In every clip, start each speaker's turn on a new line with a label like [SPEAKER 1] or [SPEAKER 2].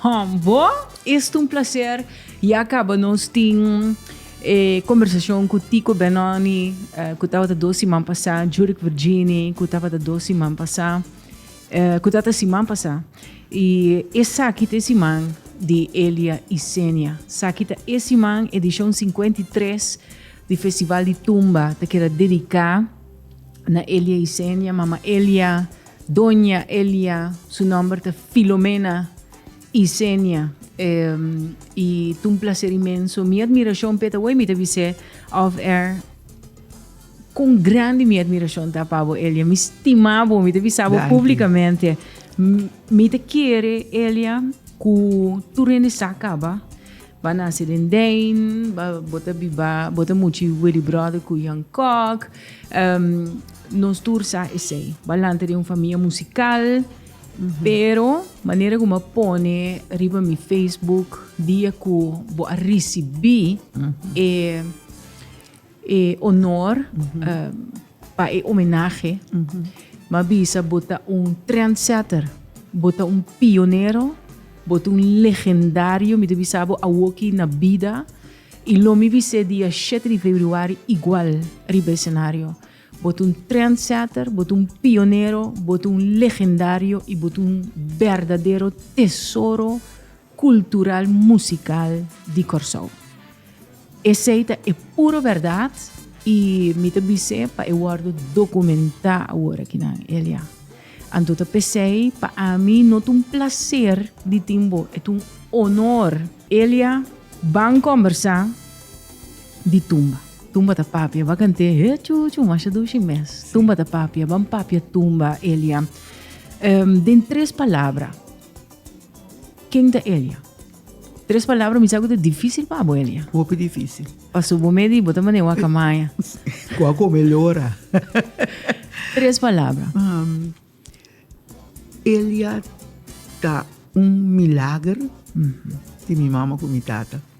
[SPEAKER 1] Hom bo esta un placer ya caba nos tin e conversacion cu Tico Benoni cu tabata dos siman pasa Juric Virgini cu tabata dos siman pasa cu tabata siman pasa y esaki ta e siman di Elia y Senia saki ta e siman edicion cincuenta y tres di festival di tumba ta keda dedica na Elia y Senia mama Elia Doña Elia, su nomber ta Filomena Isenia, y ta un placer inmenso. Mi admiracion pe ta wey, mi ta bise off air con grande mi admiracion ta pa bo Elia. Mi stima bo, mi ta bisa bo publicamente. Mi ta kere Elia cu tur hende sa caba. B'a nace den Dijn, b'a bo ta biba, bo ta muchi Willy Brother cu Jan Kok, nos tur sa esey. B'a lanta den un famia musical, pero manera cu m'a pone riba mi Facebook dia cu bo a ricibi e E honor pa e homenahe ma bisa bo ta un trendsetter, bo ta un pionero, bo ta un legendario, mi ta bisa bo awoki na bida y lo mi bis'e dia shete di februari igual riba e scenario. Bo ta un trendsetter, bo ta un pionero, bo ta un legendario y bo ta un berdadero tesoro. Cultural Musical di Corsou. Esey ta e puro berdad y mi ta bise pa e wordo documenta awor kinan, Elia. Anto ta pesey pa ami no ta un placer di tin bo, e ta un honor. Elia, Ban combersa di tumba. Tumba ta papia, ba cante he chu chu masha dushi mes. Tumba ta papia, ban papia tumba, Elia. Um, den tres palabra. Ken ta Elia? Tres palabra mi sa ku ta difisil pa bo Elia. Hopi difisil.
[SPEAKER 2] Paso bo medi bo
[SPEAKER 1] ta mane waka maya. Ku a kome
[SPEAKER 2] lora.
[SPEAKER 1] Tres palabra. Um,
[SPEAKER 2] Elia ta un milager mm -hmm. di mi mama ku mi tata.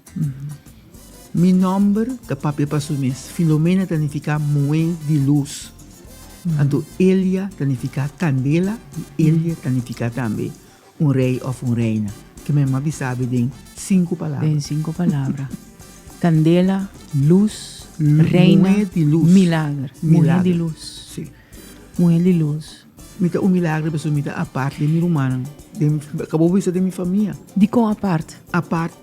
[SPEAKER 2] Mi nomber ta papia pa su mes. Filomena ta nifiká Mué di lus. Anto Elia ta nifiká Kandela i Elia ta nifiká tambe un rei òf un reina. Ke mi mama bisa abi den sinku palabra. Den sinku palabra.
[SPEAKER 1] Kandela, lus, reina,
[SPEAKER 2] milager. Muhé
[SPEAKER 1] di lus.
[SPEAKER 2] Muhé di
[SPEAKER 1] lus. Mi ta un milagri
[SPEAKER 2] pasobra mi ta apart den mi rumannan. Mi ka por bisa den mi famia. Dikon apart?
[SPEAKER 1] Apart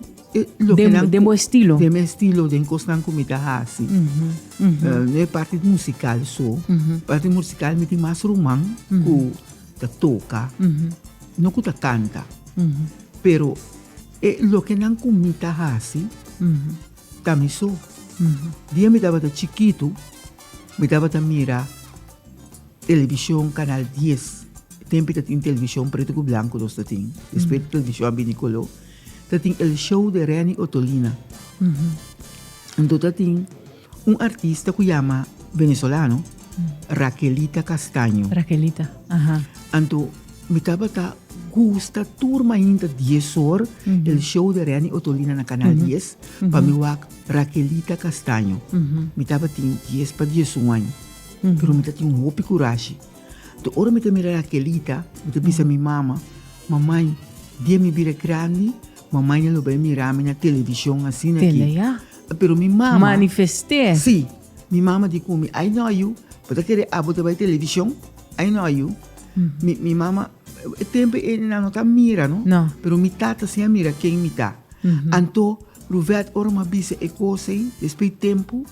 [SPEAKER 2] loke nan. Den
[SPEAKER 1] bo estilo? Den mi estilo, den
[SPEAKER 2] kosnan ku mi ta hasi. No e parti musikal so. Parti musikal mi tin mas ruman ku ta toka, no ku ta kanta. Pero e lokenan ku mi ta hasi ta mi so. Dia mi tabata chikitu mi tabata mira. Television canal dies tempi ta tin television preto cu blanco nos ta tin despues television a bini color ta tin el show de Renny Otolina ento ta tin un artista cu yama venezolano Raquelita Castaño Raquelita aha
[SPEAKER 1] anto
[SPEAKER 2] mi tabata gusta tur mainta dies or el show de Renny Otolina na canal dies pa mi wak Raquelita Castaño mi tabatin dies pa dies un aña. Pero mi ta tin hopi kurashi. Tur ora mi ta mira Rakelita, mi ta bisa mi mama, Mamai, dia mi bira grandi, mamainan lo bai mira mi na televishon asina aki. Tele, ya. Pero mi mama. Manifest'é. Sí.
[SPEAKER 1] Mi
[SPEAKER 2] mama di ku mi, Ai no yu, bo ta kere abo ta bai televishon? Ai no yu. Mi, mi mama, e tempu ei nan no ta mira, no? No. Pero mi tata
[SPEAKER 1] si a
[SPEAKER 2] mira ken mi ta. Anto, Ruvet, ora mi a bisa e kos ei, despues tempu,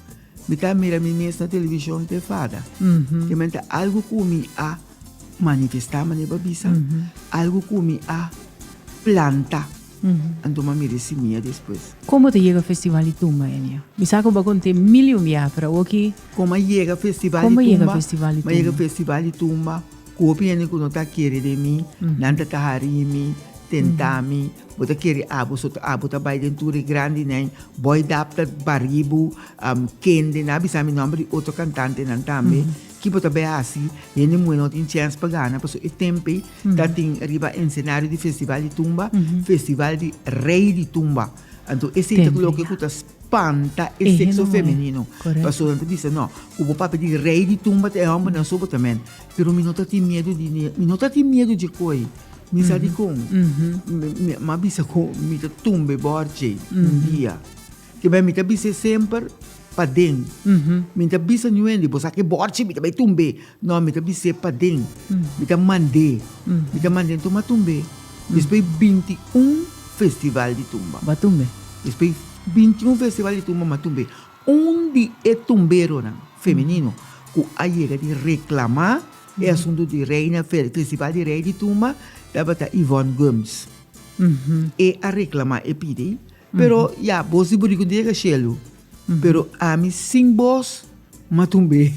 [SPEAKER 2] Mi ta mira mi mes na television pe fada. Kemmente algu ku mi a manifestá manera bo a bisa, algu ku mi a plantá, anto mi a mira e simia despues. Komo ta yega Festival
[SPEAKER 1] di Tumba, Enia? Mi sa ku bo a kont'é mil i un biaha, pero awor ki. Komo a yega
[SPEAKER 2] Festival di Tumba? Komo a yega Festival di Tumba? Mi a yega Festival di Tumba ku hopi hende ku no ta kere de mi, nan ta tahari mi, tentá mi. Bo ta kere abo so ta abo ta bai den tur e grandi nen boy dap ta baribu am kende na bisa mi nomber di otro cantante nan tambe ki bo ta bai hasi hende muhe no tin chens pa gana paso e tempe ta tin riba encenario di festival di tumba festival di rey di tumba anto esei ta loke ku ta spanta e sexo
[SPEAKER 1] femenino paso nan
[SPEAKER 2] ta bisa
[SPEAKER 1] no
[SPEAKER 2] ku bo papia di rey di tumba ta e hombernan so bo ta men pero mi no ta tin miedu di mi no ta tin miedu dje koi. Mi sa dikon? Mi a bisa ku mi ta tumbe bor dje un dia. Ke bai mi ta bisa e semper paden. Mi ta bisa nuende, Bo sa ke bor dje mi ta bai tumbe. No, mi ta bisa e paden. Mi ta mand'é. Mi ta mand'é ntum a tumbe. Despoi binti un festival di tumba. Bo a tumbe? Despoi binti un festival di tumba mi a tumbe. Un di e tumberonan, femenino, ku a yega di reklamá. E asuntu di Reina Fel, Festival di Rei di Tuma, tabata Yvonne Gums. E a reklamá, e pidi, pero ya, bos di buriku dje ka shelu, pero ami sin bos matumbe.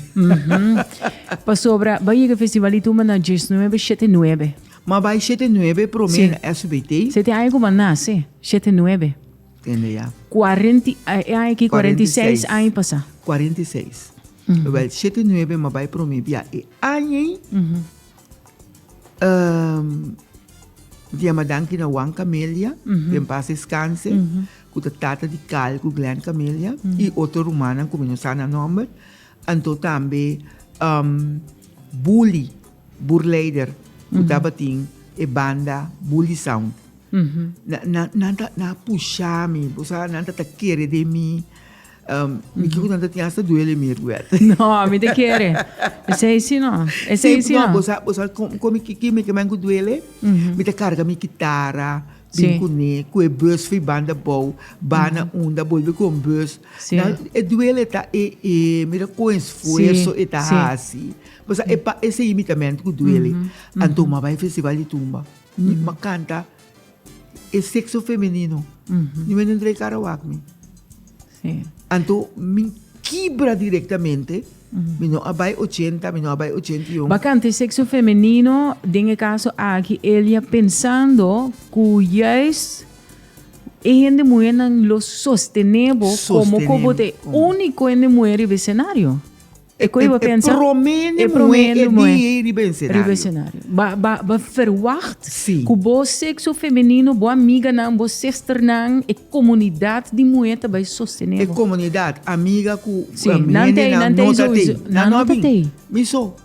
[SPEAKER 1] Pasobra bai yega Festival di Tuma na djes nuebe, shete nuebe. Ma bai shete
[SPEAKER 2] nuebe promé na SBT.
[SPEAKER 1] Si tin
[SPEAKER 2] aña ku bo a nase,
[SPEAKER 1] shete nuebe. Tende ya.
[SPEAKER 2] Cuarenta y e
[SPEAKER 1] aña aki cuarenta y seis aña pasa. Cuarenta
[SPEAKER 2] y seis. Wel shete nuebe mi a bai prome bia e aña ei. di a madanki na Juan Camelia, den paz descanse, ku ta tata di Carl ku Glen Camelia, i otro rumannan ku mi no sa nan nòmber, Anto tambe Bully, Burleider, ku tabatin e banda Bully Sound. Nan ta, nan a pushá mi, bo sa, nan ta ta kere den mi. Mi kiko nan ta tin asta duele mi Rued. No, mi ta
[SPEAKER 1] kere. Esei si no. Esei si no. Bo sa, bo sa
[SPEAKER 2] kime ke mai ku duele? Mi ta karga mi kitara bin kuné,
[SPEAKER 1] ku e bus
[SPEAKER 2] for e banda abou, bana unda, bolbe kon bus. dan e
[SPEAKER 1] duele ta
[SPEAKER 2] e e mira kon esfuerso e ta hasi pasobra e pa ese limitamentu ku duele anto m'a bai festival di tumba i m'a kanta e sekso femenino mi bai dentr'e kara wak mi
[SPEAKER 1] anto
[SPEAKER 2] mi kibra direktamente mi no a bai ochenta mi no a bai ochenta i un. B'a kanta e sekso
[SPEAKER 1] femenino den e kaso aki Elia pensando ku yais. E hende muhernan lo sostené bo como que bo ta e único hende muher riba e scenario. E coe bo pensa? E prome hende muher
[SPEAKER 2] e día ey riba e scenario. Riba e scenario.
[SPEAKER 1] Ba, ba, ba verwacht cu bo
[SPEAKER 2] sexo
[SPEAKER 1] femenino, bo amiganan, bo sisternan, e comunidad di muher ta bay sostené bo. E comunidad,
[SPEAKER 2] amiga cu, hende nan no ta
[SPEAKER 1] tey. Nan no ta tey. Mi
[SPEAKER 2] so.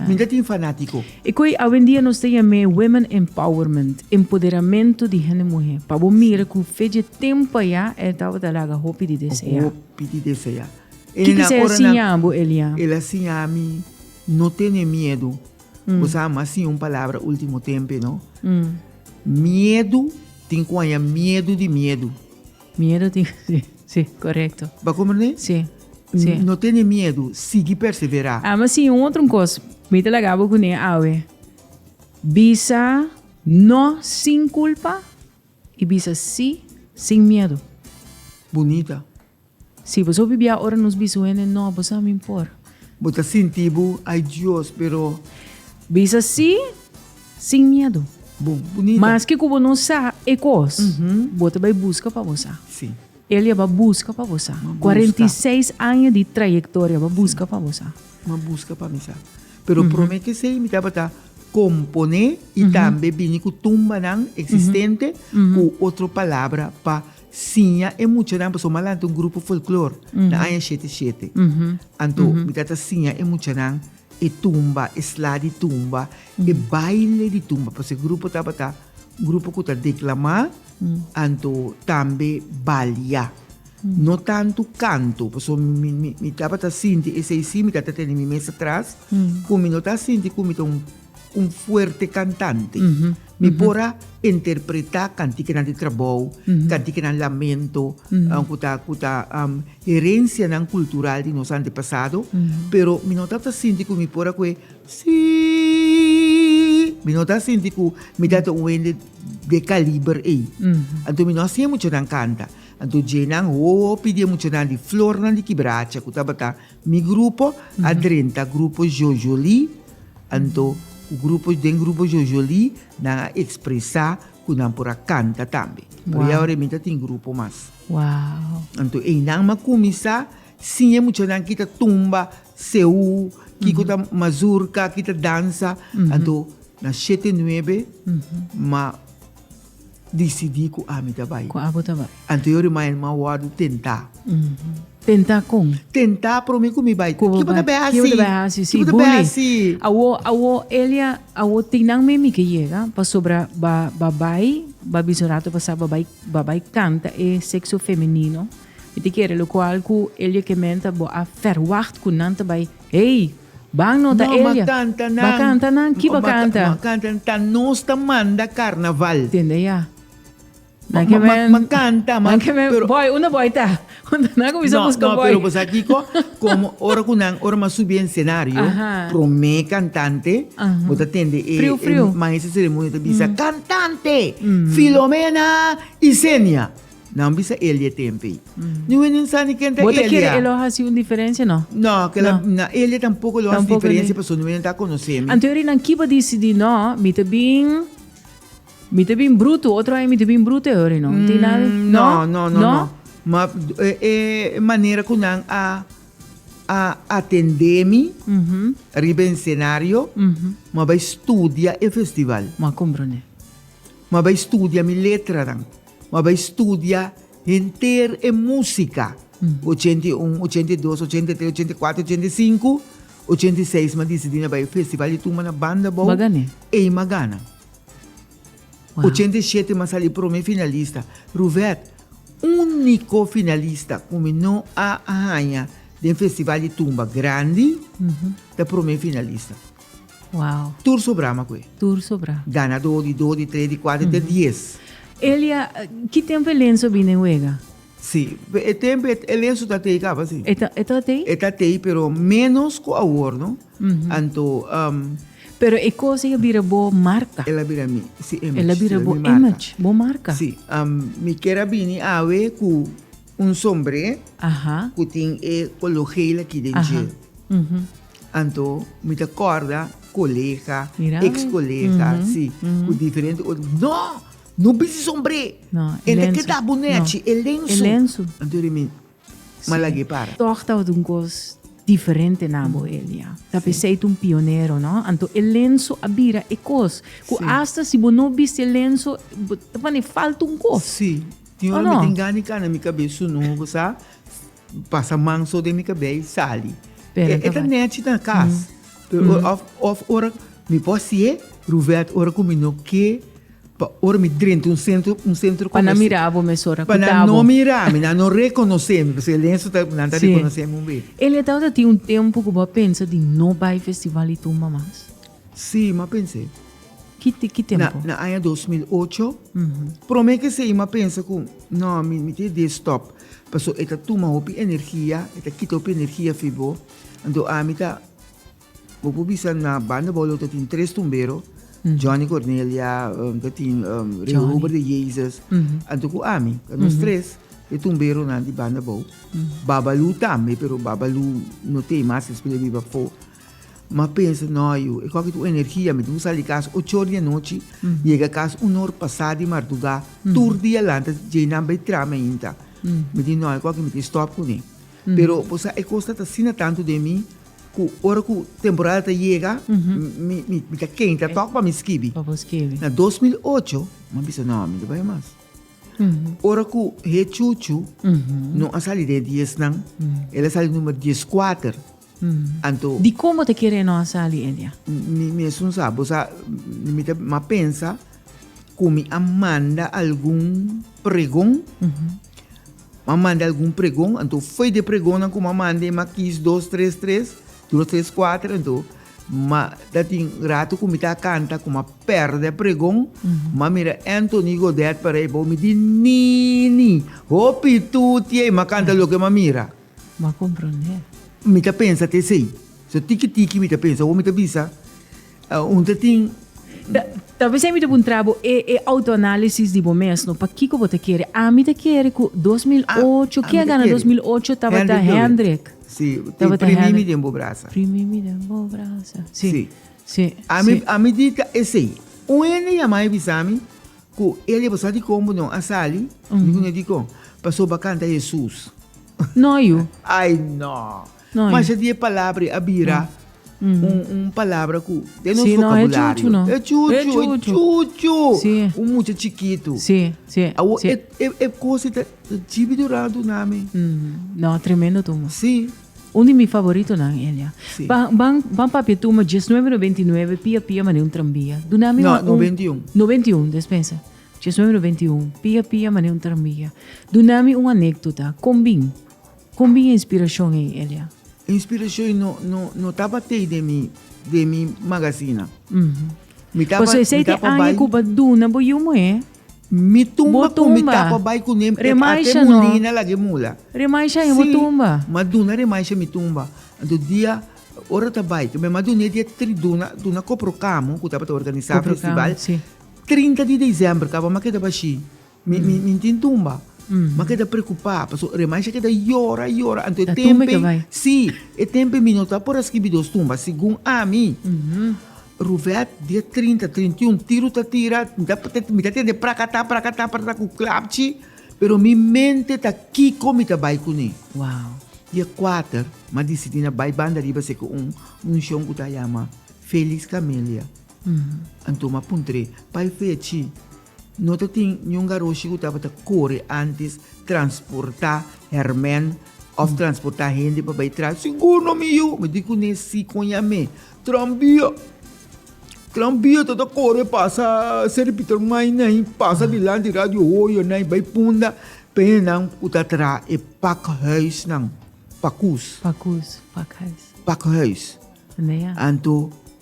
[SPEAKER 2] Mi no tin fanatiko. E koe awendia
[SPEAKER 1] nos ta yam'é Women Empowerment, Empoderamentu di Hende Muhé, pa bo mira ku fe dje tempa ya e tabata laga hopi di deseá. Hopi di deseá.
[SPEAKER 2] Kiko esei a
[SPEAKER 1] siña bo, Elia? El a siña mi
[SPEAKER 2] no tene miedu. Bo sa bo a siña un palabra último tempe, no? Miedu tin ku haña miedu di miedu. Miedu tin
[SPEAKER 1] cu si, si, corecto. Ba como ne? Si,
[SPEAKER 2] si.
[SPEAKER 1] No tene miedu,
[SPEAKER 2] sigui persevera. Ama si un otro
[SPEAKER 1] cos, mi ta laga bo cu ne awe. Bisa no sin culpa y bisa si sin miedu. Bunita.
[SPEAKER 2] Si
[SPEAKER 1] bo so bibia ora nos bisa wende no, bo sa min por. Bo ta sinti
[SPEAKER 2] bo, ay Dios, pero. Bisa
[SPEAKER 1] si. Sin miedu. Bo bunita.
[SPEAKER 2] Maske ku bo no sa
[SPEAKER 1] e kos, bo ta bai buska pa bo sa. Si. Elia
[SPEAKER 2] ba buska
[SPEAKER 1] pa bo sa. Kwarenta i seis aña di trayektoria ba buska pa bo sa. M'a buska pa mi
[SPEAKER 2] sa. Pero promé kesei mi tabata komponé i tambe bini ku tumbanan eksistente ku otro palabra pa siña e muchanan pasobra m'a lanta un grupo folklor na aña shete shete. Anto mi ta ta siña e muchanan. E tumba, e sla di tumba, e baile di tumba, pasobra e grupo tabata un grupo ku ta deklamá, anto tambe balia. No tantu kantu, paso mi, mi, mi tabata sinti esei sí, mi tabata tene mi mes atras, ku mi no ta sinti ku mi ta un, un fuerte kantante. Mi por a interpretá kantikenan di trabou, kantikenan lamento ku ta ku ta herensianan kultural di nos antepasado, pero mi no ta ta sinti ku mi por a koe siii, mi no ta sinti ku mi ta ta un hende dje kaliber ei. Anto mi no a siña muchanan kanta. Anto djenan hopi di e muchanan di flornan di kibracha ku tabata Mi grupo a drenta grupo Jojolí, anto ku grupo den grupo Jojolí nan a ekspresá ku nan por a kanta tambe. Pero ya awor e mita tin grupo mas.
[SPEAKER 1] Anto einan
[SPEAKER 2] m'a kuminsá siña e muchanan ki ta tumba, seú, kiko ta mazurka, ki ta dansa, anto na shete nuebe m'a. Disidí ku ami ta bai. Ku abo ta bai.
[SPEAKER 1] Anterior di mañana mi a
[SPEAKER 2] wòrdu tentá. Tentá
[SPEAKER 1] kon? Tentá promé ku
[SPEAKER 2] mi bai. Ku bo bai. Ke bo ta bai hasi? Ke bo ta
[SPEAKER 1] bai
[SPEAKER 2] hasi? Si, buli. Ke bo
[SPEAKER 1] ta bai hasi?
[SPEAKER 2] Awo, awo, Elia,
[SPEAKER 1] awo tin nan mi mi ke yega pasobra ba, ba bai, ba bisa un ratu pasá, ba bai, ba bai kanta e sekso femenino. Mi ta kere lokual ku Elia ke menta bo a fèrwagt ku nan ta bai. Ey, ban no ta Elia. Ba canta nan. Ki ba canta? Ma canta nan, ta nos
[SPEAKER 2] ta manda carnaval. Tende ya.
[SPEAKER 1] Nan ke men. Ma canta
[SPEAKER 2] man. Nan ke men. Boy, unda
[SPEAKER 1] boy ta? Unda nan ku bisa buska boy? No, no, pero bo sa kiko?
[SPEAKER 2] Como ora ku nan, ora mas subi en scenario, prome cantante, bo ta tende e maestro de
[SPEAKER 1] ceremonia ta
[SPEAKER 2] bisa, cantante, Filomena y Zenia. Nan bisa Elia e tempei. Ni wen nin sani ken ta Elia. Bo ta kere e lo hasi
[SPEAKER 1] un diferensia no? No, kela na
[SPEAKER 2] Elia tampoko lo hasi diferensia pasobra ni wen nan ta konosé mi. Anto eri nan kiba disidí
[SPEAKER 1] no, mi ta bin, mi ta bin brutu, otro aña mi ta bin brutu e ora no. Tin nada, no? No, no, no.
[SPEAKER 2] Ma e manera ku nan a a atendé mi riba e senario, mi a bai studia e festival. Mi a komprondé.
[SPEAKER 1] Mi a bai
[SPEAKER 2] studia mi letranan. M'a bai studia henter e músika, ochenta i un, ochenta i dos, ochenta i tres, ochenta i kuater, ochenta i sinku, ochenta i seis m'a disidí na bai e festival di tumba na banda abou. M'a gané. Ei m'a
[SPEAKER 1] gana.
[SPEAKER 2] Wow. Ochenta i shete m'a sali promé finalista. Ruvet, úniko finalista ku mi no a haña den festival di tumba grandi, ta promé finalista. Wow.
[SPEAKER 1] Tur sobra ma
[SPEAKER 2] kue. Tur sobra. Gana
[SPEAKER 1] do di do di
[SPEAKER 2] tre di kuater te dies. Elia,
[SPEAKER 1] ki tempo e lenso bin den wega? Si, e
[SPEAKER 2] tempo e lenso ta tei kaba si. E ta e ta tei? E ta
[SPEAKER 1] tei pero
[SPEAKER 2] menos ku awor no. Anto Pero
[SPEAKER 1] e kos ei a bira bo marka. El a bira mi, si image.
[SPEAKER 2] El a bira bo image,
[SPEAKER 1] bo marka. Si, mi
[SPEAKER 2] kier a bini awe ku Un sombre cu tin e color geel aki den dje. Anto mi ta corda colega, ex colega, si, cu diferente ot, No! No bisti sombre! E ta keda
[SPEAKER 1] bo nechi,
[SPEAKER 2] e lensu! Anto di
[SPEAKER 1] mi,
[SPEAKER 2] ma lag'e para. Toch tabata un cos
[SPEAKER 1] diferente na bo, Elia. Ta pesey t'un pionero, no? Anto e lensu a bira e cos cu asta si bo no bisti e lensu bo ta pane falta un cos. Tin ora
[SPEAKER 2] mi tin gani ka na mi kabes su no bo sa pasa man so den mi kabes i sali e ta nèchi na kas of of ora mi por hasié ruwèt ora ku mi no ke pa ora mi drenta un sentro un sentro komersial pa nan mira
[SPEAKER 1] bo mes ora ku ta bo pa nan no mira
[SPEAKER 2] mi nan no rekonosé mi paske Ernesto ta nan ta rekonosé mi un be e le tabata tin un
[SPEAKER 1] tempu ku bo a pensa di no bai festival i tumba mas? Si mi a
[SPEAKER 2] pens'é.
[SPEAKER 1] Na aña dos mil
[SPEAKER 2] ocho, promé ke Seima a pensa ku, Nò, mi ta e dé stòp, pasobra e ta tuma hopi energia, e ta kita hopi energia fi bo. Anto ami ta, bo por bisa na banda Bòlò ta tin tres tumbero, Johnny Cornelia, ta tin Reober de Jesus, anto ku ami. Ta nos tres e tumberonan di banda Bou. Babalu tambe, pero Babalu no t'ei mas, e spel a biba afó. M'a pensa, No yu, e koki tur energia, mi tin ku sali di kas ocho or di anochi, yega kas un or pasá di martugá, tur dia lanta dje nan bai trami ainda. Mi di, No, e koki mi tin stòp kuné. Pero bo sa, e kos tabata asina tantu den mi ku ora ku temporada ta yega, mi, mi, mi ta kenta tòg pa mi skibi. Pa bo skibi. Na dos mil ocho, m'a bisa, No, mi no bai mas. Ora ku Hé Chuchu no a sali den e diesnan, el a sali número dieskuater. Anto. Dikon bo ta kere
[SPEAKER 1] nos a sali e dia? Mi esun sa.
[SPEAKER 2] Bo sa, mi ta mas pensa ku mi a manda algun pregon. Mi a manda algun pregon, anto fo'i di e pregonnan ku mi a manda, mi a kis dos, tres, tres, dos, tres, kuater. Anto, ma ta tin ratu ku mi ta kanta ku mi a pèrdè e pregon, mi a mira Anthony Godet parei, mi di, Nini, hopi tutiey! Mi a kanta loke mi a mira. Bo a comprender.
[SPEAKER 1] Mi ta pensa
[SPEAKER 2] ta esei. So tiki tiki mi ta pensa awor mi ta bisa un ta tin.
[SPEAKER 1] Tal vez mi ta puntra bo e auto analisis di bo mes no pakiko bo ta kere ami ta kere ku dos mil ocho ke a gana dos mil ocho tabata Hendrik tabata
[SPEAKER 2] Hendrik primi mi den bo brasa primi mi den bo
[SPEAKER 1] brasa si ami
[SPEAKER 2] ami di ta esei un hende yama mi bisa mi Ku el e basa dikon bo no a sali? Mi ku no dikon. Paso ba kanta Hesus. No yu.
[SPEAKER 1] Ai
[SPEAKER 2] no. Masha di e palabra
[SPEAKER 1] a
[SPEAKER 2] bira un palabra ku den nos vokabulario. No
[SPEAKER 1] e chuchu. E chuchu.
[SPEAKER 2] E chuchu. Si. Un mucha
[SPEAKER 1] chikitu.
[SPEAKER 2] Si. Si. Awo
[SPEAKER 1] e kosa
[SPEAKER 2] ta jibi duran dunami. No tremendo
[SPEAKER 1] tuma. Si. Un di
[SPEAKER 2] mi
[SPEAKER 1] favoritonan Elia. Sí. Ban, ban,
[SPEAKER 2] ban papia
[SPEAKER 1] tuma dieznuebe noventa i nuebe, pia pia mané un trambia. Duna mi No, un- noventa i un.
[SPEAKER 2] noventa i un, despensa.
[SPEAKER 1] Dieznuebe noventa i un, pia pia mané un trambia. Duna mi un anécdota. Kon bin? Kon bin e inspirashon ei, Elia? E inspirashon ei no,
[SPEAKER 2] no, no tabat'ei den mi, den mi magasina. Mi taba, Pasobra esei mi te taba
[SPEAKER 1] aña bai. ku ba duna bo yu muhé. Mi tumba
[SPEAKER 2] ku mi tapa bai ku nem e ate mulina
[SPEAKER 1] lag'e mula.
[SPEAKER 2] Si,
[SPEAKER 1] m'a duna remaisha mi
[SPEAKER 2] tumba. Anto dia, ora ta bai, tambe m'a dun'é dia tri, duna, duna Koprokamu, ku tabata organisá festival, trinta
[SPEAKER 1] di
[SPEAKER 2] desèmber, kaba m'a keda bashí. Mi, mi, mi tin tumba. M'a keda preokupá, pasobra remaisha keda yora, yora, anto e tempen,
[SPEAKER 1] si, e tempen
[SPEAKER 2] mi no ta por a skibi dos tumba, segun ami. Ruvet dia trinta, trinta i un tiru ta tira mi ta tende prakata prakata prakata ku klapchi pero mi mente ta kiko mi ta bai kuné dia
[SPEAKER 1] kuater
[SPEAKER 2] mi a disidi na bai banda riba se ku un munshon ku ta yama Felix Camelia anto mi a puntr'é pa e fechi No ta tin niun garoshi ku tabata kore antis transportá hèrmèn òf transportá hende pa bai tras. Sigur no mi yu! Mi di kuné sí kon yam'é, Tranbia! Tranbia ta ta kore pasa Seri Piter Mai nai, pasa dilanti Radio Hoyo nai, bai punda p'e hendenan ku ta tra e pakhuisnan, pakus. Pakus, pakhuis. Pakhuis.
[SPEAKER 1] Anto.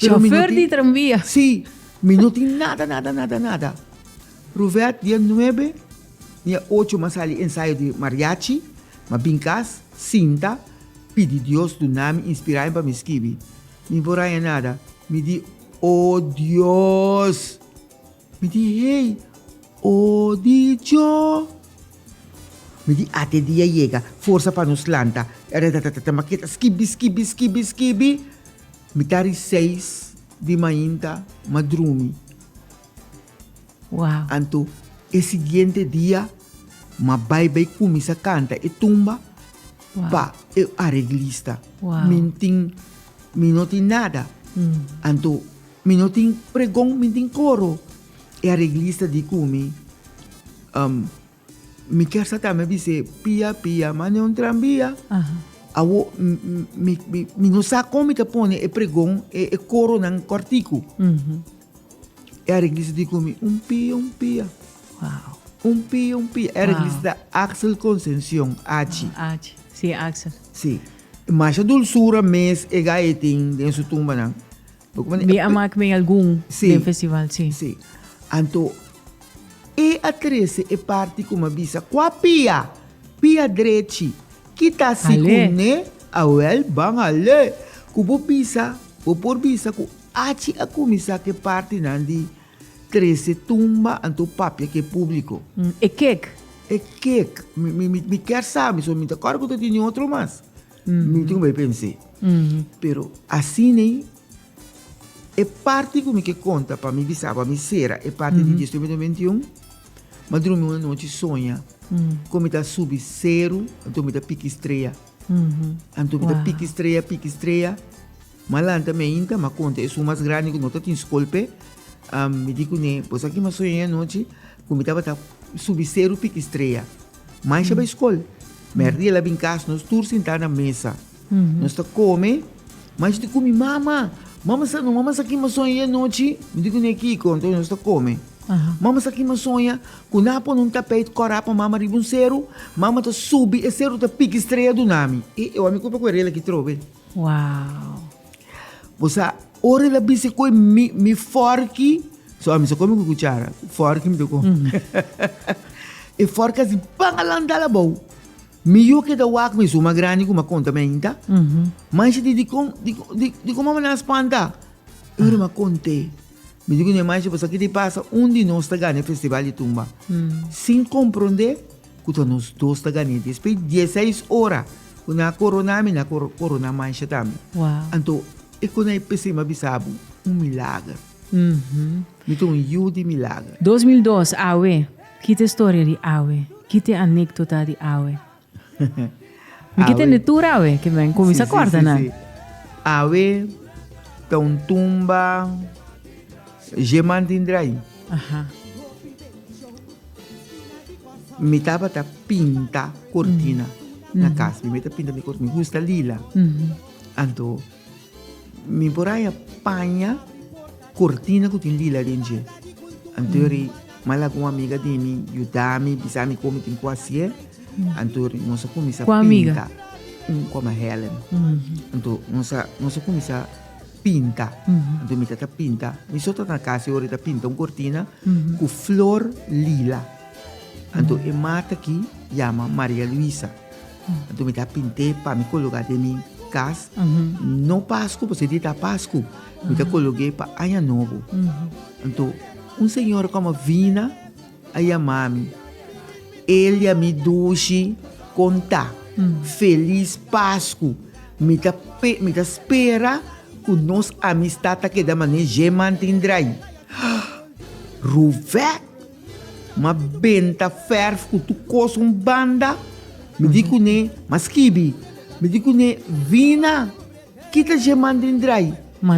[SPEAKER 2] Pero mi no Chauffeur tin-
[SPEAKER 1] di tranvia. Sí, mi
[SPEAKER 2] no tin nada, nada, nada, nada. Ruvet dia nuebe, dia ocho m'a sali ensayo di mariachi, m'a bin cas, sinta, pidi Dios duna mi inspirayon pa mi skibi. Mi por haña nada. Mi di, Oh Dios! Mi di, Hey, oh di djo! Mi di, Ate dia yega, forsa pa nos lanta. Tatatata, m'a keda skibi, skibi, skibi, skibi. Mi ta ri seis di mainta ma drumi. Wow.
[SPEAKER 1] Anto e
[SPEAKER 2] siguiente dia ma bai bai cuminsa canta e tumba wow. pa e areglista. Wow. Mi tin, mi no tin nada. Mm. Anto mi no tin pregon, mi tin coro. E areglista di cumi. Um, Mi ker sa tambe bis'é pia pia m'a ne un tranbia. Awo mi no sa kon mi ta pone e pregon, e koronan kòrtiku. E areglis a di ku mi, un pia un pia.
[SPEAKER 1] Un pia un pia.
[SPEAKER 2] E areglis ta Axel Concencion, Achi. Achi, si Axel.
[SPEAKER 1] Si.
[SPEAKER 2] Masha dulsura mes e gai tin den su tumbanan. Mi a
[SPEAKER 1] mak mi algun den festival, si.
[SPEAKER 2] Si.
[SPEAKER 1] Anto,
[SPEAKER 2] e a trese e parti ku mi a bisa, kua pia? Pia drechi. Kita si ku ne? Awèl, ban hal'é. Ku bo bisa, bo por bisa ku achi a kuminsá ku e partinan di trese tumba, anto papia ku e públiko. E kek?
[SPEAKER 1] E kek.
[SPEAKER 2] Mi kèr sabi, mi ta kòrda ku ta tene otro mas. Mi tin ku bai pens'é. Pero asin'ei e parti ku mi ke konta pa mi bisa bo, mi sera e parti di Dios Tiobe Tiobe Bentiun, mi a drumi un anochi soña ku mi ta subi seru anto mi ta piki strea. Anto mi ta piki strea, piki strea. Malanta mi a hinta ma konta esun mas grandi ku no ta tin skol p'e. Mi di kuné, Bo sa ke mi a soña e anochi? Ku mi tabata subi seru pikistrella. Mansha bai skol. Mèrdía el a bin kas, nos tur sintá na mesa. Nos ta kome. Mansha ta kumi, Mama, mama sa no, mama sa ke mi a soña e anochi? Mi di kuné, Kiko? Enton nos ta kome. Mama sa ke mi a soña? Ku nan a pone un tapeit kòrá pa mama riba un seru. Mama ta subi, e seru ta pikistrella duna mi. E òmi ku a papia ku e rela ki trobe. Wow.
[SPEAKER 1] Bo
[SPEAKER 2] sa ora el a bisa cu mi, mi forki, so a mi sa come cu cuchara, forki mi ta com. Mm. e forki así pan alandala bou. Mi yo keda wak mi suma grandi cu ma conta meinta. Mm -hmm. Manchi di, di, con, di, di, di como me na spanta. Ah. Ora ma conte. Mi digo ne manchi, pues aquí te pasa un di nos ta gana festival di tumba. Mm. Sin comprende. Ku ta nos dos ta gane. Despues dieseis ora ku nan a koroná mi nan a koroná Mansha tambe. Anto
[SPEAKER 1] e kona
[SPEAKER 2] e p'esei mi a bisa bo un milager. Mi ta un yu di milager. Dos mil dos, awe.
[SPEAKER 1] Kit e storia di awe? Kit e anekdota di awe? Mi ke tende tur awe ke mi a kuminsa kòrda nan. Awe
[SPEAKER 2] ta un tumba dje man tin drayi. Mi tabata pinta kortina na kas mi. Mi ta pinta mi kortina mi gusta lila anto. Mi por haya paña cortina cu tin lila den dje. Antori mal aku un amiga di mi yuda mi, bisa mi como mi tin cu hacier. Antori nos a cuminsa Cu amiga? pinta. Un coma Helen. Anto nos a, nos a cuminsa pinta. Anto mi ta ta pinta. Mi so ta na casa e ora e ta pinta un cortina cu flor lila. Anto e mata aki yama Maria Luisa. Anto mi ta pint'é pa mi kologa den mi kas, no Pasku pask e di ta Pasku, mi ta kolog'é pa Aña Nobo. Anto un señor kòm a bina a yama mi, el di a mi, Dushi, kon ta? Felis Pasku! Mi ta mi ta spera ku nos amistat ta keda manera djé mantin draai. Haa! Ruvèk! Ma benta ferf ku tu kos un banda, mi di kuné, ma skibi, mi di kuné, vina, kita dje man den drai.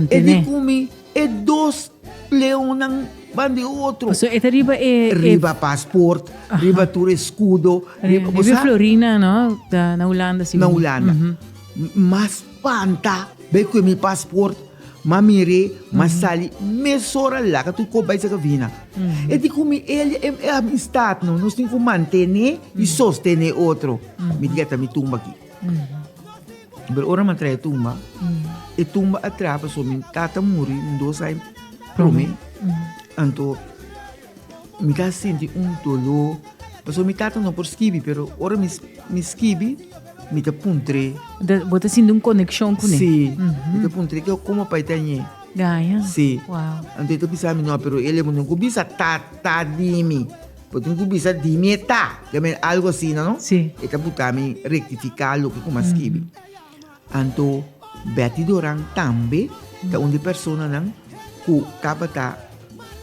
[SPEAKER 2] E di ku
[SPEAKER 1] mi,
[SPEAKER 2] e dos leonnan ban di otro. Paso e ta riba e.
[SPEAKER 1] Riba pasport,
[SPEAKER 2] riba tur e skudo, riba, bo sa. Riba e
[SPEAKER 1] florinan, no? Na Hulanda, sigur. Na Hulanda. M,
[SPEAKER 2] mas spanta, bai ku e mi pasport. Ma mir'é ma sali mesora laga tu kop bai saka vina. E di ku mi Elia e e amistatnan. Nos tin ku mantené i sostené otro. Mi di ata mi tumba aki. Pero ora mi a traha e tumba, e tumba a traha pasobra mi tata muri un dos ai promé. Anto Mi ta sinti un doló, pasobra mi tata no por skibi, pero ora mi skibi, mi ta puntr'é. Bo ta sinti un
[SPEAKER 1] konekshon ku n'é? Sí, mi ta puntr'é
[SPEAKER 2] ke komo pa e ta ñe. Gaya? Sí.
[SPEAKER 1] Wow.
[SPEAKER 2] Anto e ta bisa
[SPEAKER 1] mi, no,
[SPEAKER 2] pero e lebe no ku bisa tata di mi, bo tin ku bisa di mi e ta, algu asina, no? Sí. E ta buta mi rektifiká loke ku mi a skibi. Anto Betty Doran tambe ta un di personanan ku tabata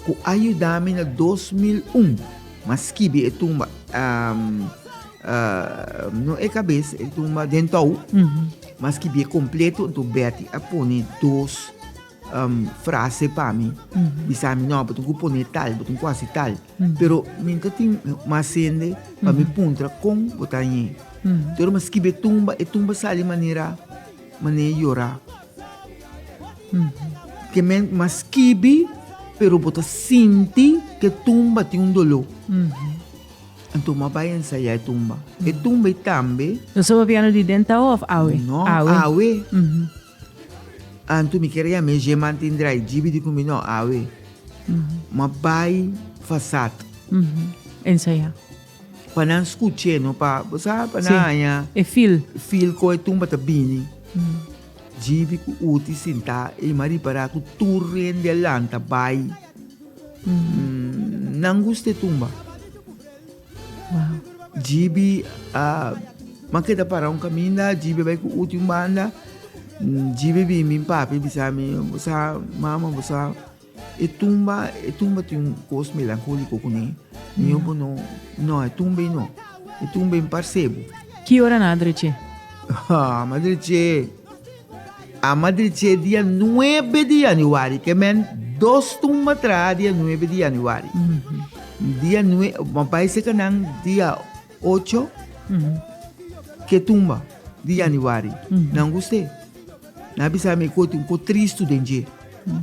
[SPEAKER 2] ku a yuda mi na dos mil un m'a skibi e tumba no e kabes e tumba den tou m'a skibié kompleto anto Betty a pone dos frase pa mi bisa mi no bo tin cu pone tal bo tin cu haci tal pero mi no tin mas hende pa mi puntra con bo ta ñe dor mi a skibi e tumba e tumba sali manera manera yora ke men mi a skibi pero bo ta sinti ke tumba tin un dolo anto mi a bai a ensaya e tumba e tumba y tambe. Eso papiano di
[SPEAKER 1] denta awe of awe? No awe.
[SPEAKER 2] Anto mi kere ya mes djeman tin drai djibi di kumi no awe ma bai fasat.
[SPEAKER 1] Ensaya. Pa
[SPEAKER 2] nan skuche no pa bo sa pa nan haña e fil
[SPEAKER 1] fil ko e tumba
[SPEAKER 2] ta bini djibi ku uti sinta e ima ripara ku tur hende a lanta bai nan gusta e tumba. Wow.
[SPEAKER 1] Jibi a
[SPEAKER 2] man keda para un kaminda, Jibi bai ku uti un banda. Jibi bin bin papi bisa mi, bo sa mama, bo sa e tumba, e tumba tin un kos melankoliko kuné. Mi yo bo no, no e tumba ei no. E tumba ei un parse bo. Ki ora nan a
[SPEAKER 1] dreche? Haa, m'adreche.
[SPEAKER 2] Ama di dje dia nuebe di yanüari, ke mèn dos tumba traha dia nuebe di yanüari. Dia nue, ma bai seka nan dia ocho ke tumba di yanüari. Nan gust'é. Nan a bisa mi ku tin ku tristu den dje.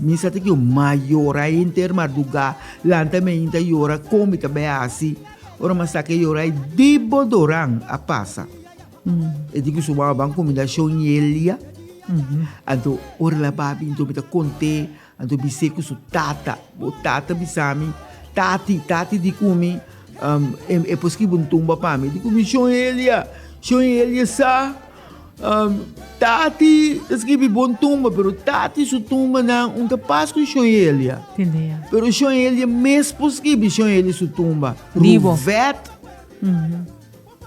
[SPEAKER 2] Mi sa ta kiu ma yora henter mardugá, lanta mi ainda yora kon mi ta bai hasi. Ora mi a saki yora ei di Bodoran a pasa. E tin ku su mama ban kumida shon i e lia. Anto ora la ba bintu mi ta kont'é, anto bis'é ku su tata, Bo tata bisa mi, tati, tati di kumi, e por skibi un tumba pa mi, di kumi shon i e lia, shon i e lia sa, tati ta skibi bo un tumba, pero tati su tumbanan un ta pas ku shon i e lia. Pero
[SPEAKER 1] shon i e lia
[SPEAKER 2] mes por skibi shon i e lia su tumba. Ruvet.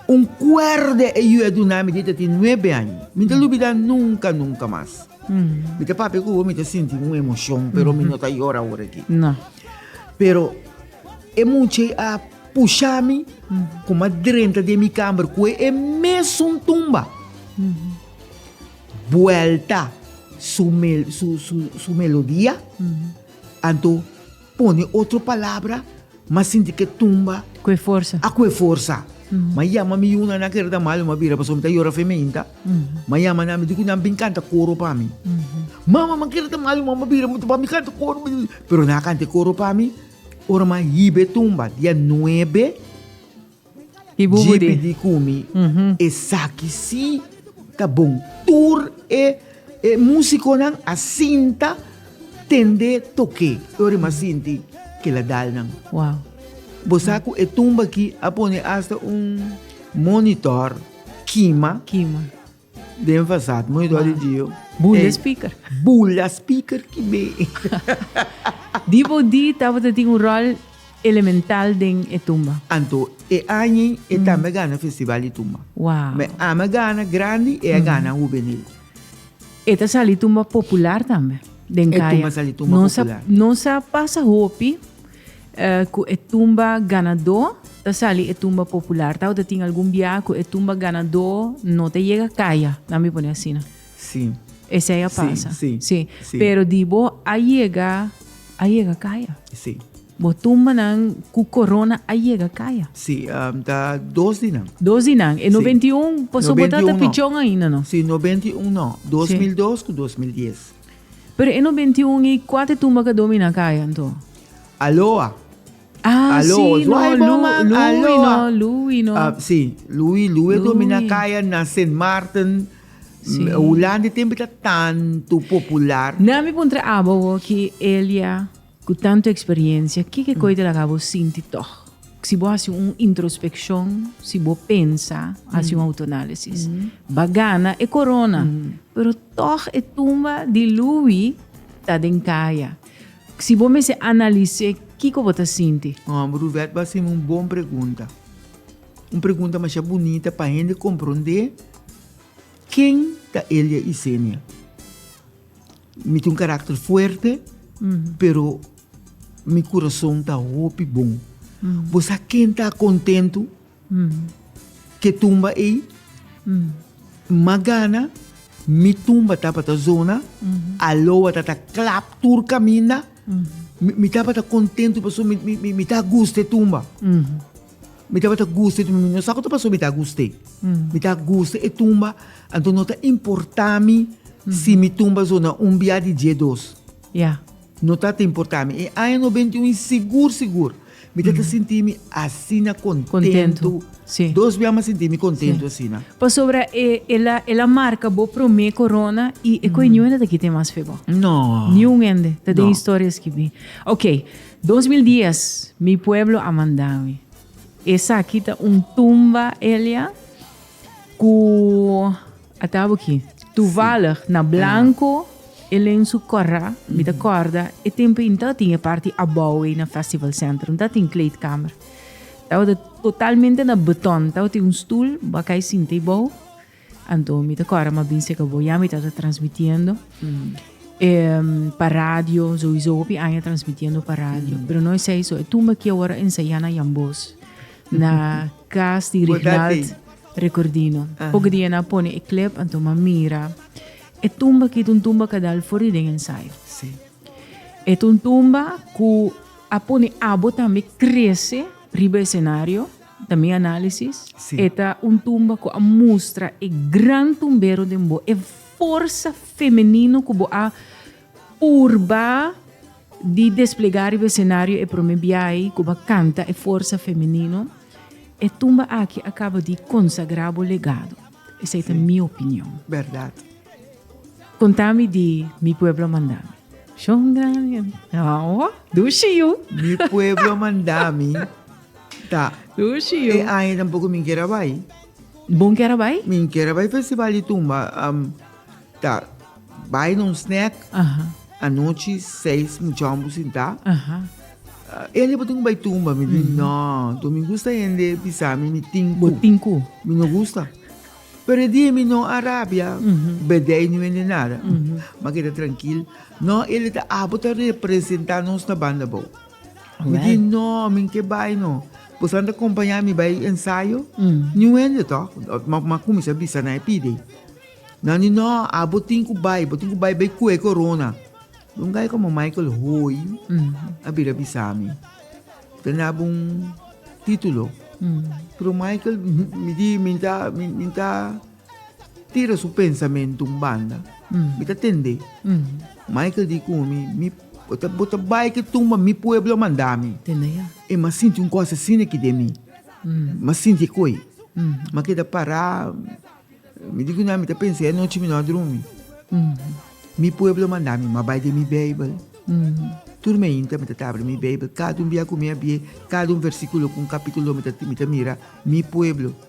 [SPEAKER 2] Un kuerde e yu a duna mi dita tin nuebe aña. Mi ta lubidá nunka, nunka mas. Mi ta papia ku bo, mi ta sinti un emoshon, pero mi no ta yora ora aki.
[SPEAKER 1] Pero
[SPEAKER 2] e mucha ei a pusha mi ku m'a drenta den mi kamber ku e mesun tumba. Buelta su, su, su melodia, anto. Pone otro palabra, m'a sinti k'e tumba. Ku e forsa. A ku
[SPEAKER 1] e forsa.
[SPEAKER 2] M'a yama mi yunan, nan keda ta mal, m'a bira pasobra mi ta yora fe meinta. M'a yama nan, mi di ku nan bin kanta koro pa mi. Mama, m'a keda ta mal, mama a bira, m'a bin kanta koro, pero nan a kanta e koro pa mi. Ora m'a hiba e tumba, dia nuebe.
[SPEAKER 1] JP di kumi
[SPEAKER 2] esaki si ta bon. Tur e musikonan a sinta tende toke yori m'a sinti kila dalnan.
[SPEAKER 1] Bo sa ku
[SPEAKER 2] e tumba aki a pone asta un monitor kima Den fasad, muy dor di Gio. Bul da speaker.
[SPEAKER 1] Bul da speaker
[SPEAKER 2] ki be. Di bo di
[SPEAKER 1] tabata tin un rol elemental den e tumba. Anto e
[SPEAKER 2] añi e tambe gana festival di tumba. Wow. Mi ama
[SPEAKER 1] gana
[SPEAKER 2] grandi e a gana hubenil. E ta
[SPEAKER 1] sali tumba popular tambe den kaya. E tumba sali tumba popular.
[SPEAKER 2] Nos a pasa
[SPEAKER 1] hopi. Ku e tumba ganadó ta sali e tumba popular. Tau ta tin algun bia ku e tumba ganadó no ta yega kaya, nan mi pone asina. Sí.
[SPEAKER 2] Esei a pasa.
[SPEAKER 1] Sí, sí, sí. Pero
[SPEAKER 2] di bo
[SPEAKER 1] a yega, a yega kaya. Sí.
[SPEAKER 2] Bo tumbanan
[SPEAKER 1] ku korona a yega kaya. Sí, um, ta
[SPEAKER 2] dos di nan. Dos di nan. E Sí.
[SPEAKER 1] 91 paso bo ta 91 ta no. pichon ainda no.
[SPEAKER 2] Sí, 91
[SPEAKER 1] no, 2002
[SPEAKER 2] ku 2010. Pero e no
[SPEAKER 1] benti un i kua te tumba ka domi na kaya anto? Aloa.
[SPEAKER 2] Ah,
[SPEAKER 1] Alo, sí, os no, wai
[SPEAKER 2] Lu, boman, Louis no, aloa. Louis no. Ah,
[SPEAKER 1] sí, Louis, Louis
[SPEAKER 2] Louis. domi na kaya na Sint Maarten. Sí. M-
[SPEAKER 1] Hulandi tempi ta
[SPEAKER 2] tanto popular. Nan mi puntra abo
[SPEAKER 1] bo ki Elia Ku tantu eksperiencia, kiko e kos ta laga bo sinti tog? Si bo hasi un introspeccion, si bo pensa, hasi un autoanalisis, ba gana e corona, pero tog e tumba di Louis ta den caya. Si bo mester analis'é, kiko bo ta sinti? Oh, Bruvet bo a hasi'm
[SPEAKER 2] un bon pregunta. Un pregunta masha bunita pa hende comprondé ken ta Elia Isenia. Mi tin un karakter fuerte, pero mi kurason ta hopi bon. Bo sa ken ta kontentu ke tumba ei? Mas gana mi tumba tabata zona aloa ta ta klap tur kaminda. Mi tabata kontentu pasobra mi ta gusta e tumba. Mi tabata gusta e tumba, mi no sa ku ta pasó mi ta gusta e. Mi ta gusta e tumba, anto no ta importá mi si mi tumba so na un biaha di dies dos. Ya.
[SPEAKER 1] No ta ta
[SPEAKER 2] importá mi. E aña nobenta i un i sigur sigur mi ta ta sinti mi asina kontentu. Kontentu, si. Dos biaha
[SPEAKER 1] mi a sinti mi
[SPEAKER 2] kontentu asina. Pasobra e,
[SPEAKER 1] el a, el a marka bo promé korona i e koe niun hende ta kita e mas fe bo. No. Niun
[SPEAKER 2] hende ta den
[SPEAKER 1] historia skibí. Oké, Dos mil dies mi pueblo a manda mi. Esaki ta un tumba Elia cu a tabo ki. Toevallig na blanco e len su corra mi ta corda e tempo in ta tin e parti abao ei na festival center in ta tin kleedkamer tawata totalmente na beton tawata tin un stoel bakay sinta ei bao Anto mi ta kòrda mi a bin seka bo ya mi ta ta transmitiendo pa radio souiso hopi aña transmitiendo pa radio pero no esei so e tumbe aki awor a ensaya na Yambos na kas di Rignald Recordino poco di aña a pone e clip anto mi a mira e tumbe aki ta un tumbe a kadal for di den ensayo
[SPEAKER 2] e ta un
[SPEAKER 1] tumbe ku a pone abo tambe krese riba escenario Ta mi análisis, sí. e ta un tumba ku a mustra e gran tumbero den bo, e forsa femenino ku bo a purba di desplegá riba esenario e promé biahi ku bo a kanta e forsa femenino. E tumba aki a kaba di konsagrá bo legado. Esei ta mi opinion. Bèrdat. Kontá mi di mi pueblo a mandá mi. Shon grandi. Awo, dushi yu. Mi pueblo
[SPEAKER 2] a mandá mi. Ta. Sushi yu. E aña tampoco mi kier a bai.
[SPEAKER 1] Bon kier a bai? Mi kier a bai festival
[SPEAKER 2] di tumba. Um, ta bai na un snack. Aha. Anochi seis muchacho por sinta. Aha. Uh, ende por tin bai tumba. Mi di, no, to mi gusta ende pisami mi tinku. Bo tinku. Mi no
[SPEAKER 1] gusta.
[SPEAKER 2] Pero e dia mi no a rabia, bedei no ende nada. Ma keda trankil. No, ele ta abo ta representa nos na banda bo. Mi di, no, mi ke bai no. Bosan ta kompañá mi bai ensayo? Ni wende tò, m'a kuminsá bisa na e pidi. Nan di, no, abo tin ku bai, bo tin ku bai bai kue korona. Dunga ei komo Michael Hoy a bira bisa mi. Ta daba un título. Pero Michael, mi di, mi ta, mi ta Tira su pensamentu un banda. Mi ta tende. Michael di ku mi, mi, bo ta, bo ta bai ke tumba mi pueblo a manda mi. Tende ya. E m'a
[SPEAKER 1] sinti un kos
[SPEAKER 2] asina aki den mi. M'a sinti e koi. M'a keda pará. Mi di ku nan, mi ta pensa e anochi mi no a drumi. Mi pueblo a manda mi, m'a bai den mi Beibel. Tur meinta mi ta tabri mi Beibel. Kada un bia ku mi a bi'é, kada un versíkulo ku un kapítulo mi ta, mi ta mira, mi pueblo.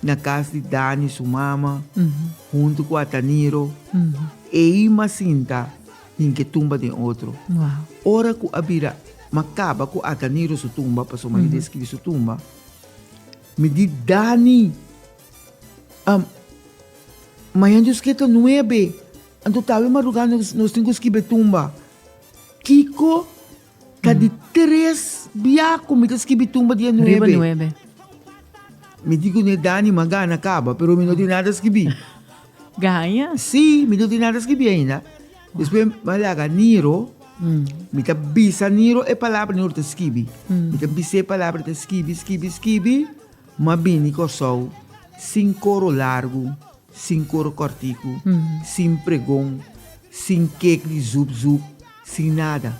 [SPEAKER 2] na cas di Dani su mama hunto cu Ataniro ei ma sinta tin ke tumba den otro ora cu a bira ma caba cu Ataniro su tumba pasobra mi describi su tumba mi di Dani mañan dios kier ta nuebe anto tawe maruga nos tin cu skibe tumba kiko Ta di tres bia ku mi ta skibi tumba dia nuebe. Riba nuebe. Mi di ku ne Dani m'a gana kaba, pero mi no tin nada skibi. Gaña?
[SPEAKER 1] Si, mi no tin
[SPEAKER 2] nada skibi ainda. Despues m'a laga Niro, mi ta bisa Niro e palabra Niro ta skibi. Mi ta bisa e palabra, ta skibi, skibi, skibi, m'a bini Kòrsou sin koro largu. Sin koro kòrtiku, sin pregon, sin kek di zup zup, sin nada.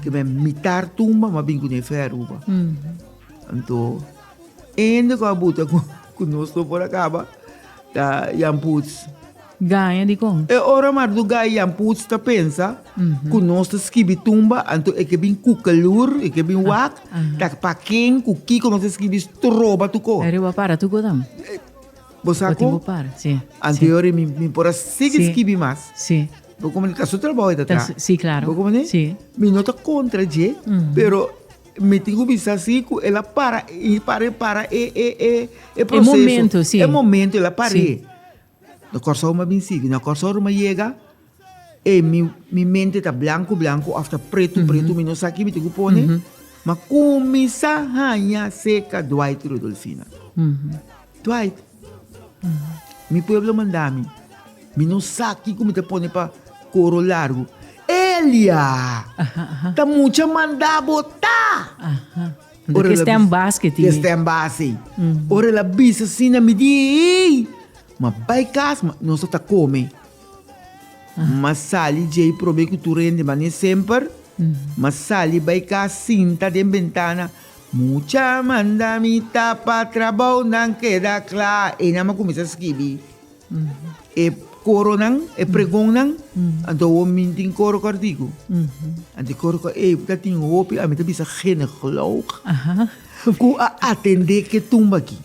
[SPEAKER 2] Ke mè mitar tumba m'a bin ku n'e fè Aruba. Anto, ende ku a buta ku nos no por a kaba, ta Jan Poots. Gaña di
[SPEAKER 1] kon? E ora Mardu Gaña
[SPEAKER 2] Jan Poots ta pensa ku nos ta skibi tumba, anto e ke bin kuka lur, e ke bin wak, ta pa ken, ku kiko nos ta skibi stroba tukó. Ariba para tukó
[SPEAKER 1] tambe. Bo sa ku
[SPEAKER 2] anterior
[SPEAKER 1] i mi
[SPEAKER 2] por a sigui skibi mas. Bo komo
[SPEAKER 1] ta su trabou
[SPEAKER 2] e ta traha. Bo komo ne?
[SPEAKER 1] Mi
[SPEAKER 2] no ta
[SPEAKER 1] kontra
[SPEAKER 2] dje, pero mi tin ku bisa si ku el a para i para i para e proseso. E momento
[SPEAKER 1] el a par'é.
[SPEAKER 2] Na Kòrsou mi a bin sigui, na Kòrsou ruma yega. E mi mi mente ta blanku blanku of ta pretu pretu mi no sa kibi ti ku pone ma kuminsa haña seka Dwight Rudolfina Dwight mi pueblo manda mi mi no sa kiku mi ta pone pa koro largu Elia ta mucha manda bota ora
[SPEAKER 1] la Kisten bis- bas ke tin mi. kisten bas ei
[SPEAKER 2] ora la bisa asina mi di ei ma bai kas ma nos ta kome M'a sali djei prob'é ku tur hende man'é semper, m'a sali bai kas sinta den bentana, Mucha manda mi ta pa trabounan keda kla, einan m'a kuminsá skibi e koronan, e pregonnan, anto awor mi tin koro kòrtiku, anto e koro kòrtiku ta tin hopi, ami ta bisa geneglòg ku a atendé ke tumba aki,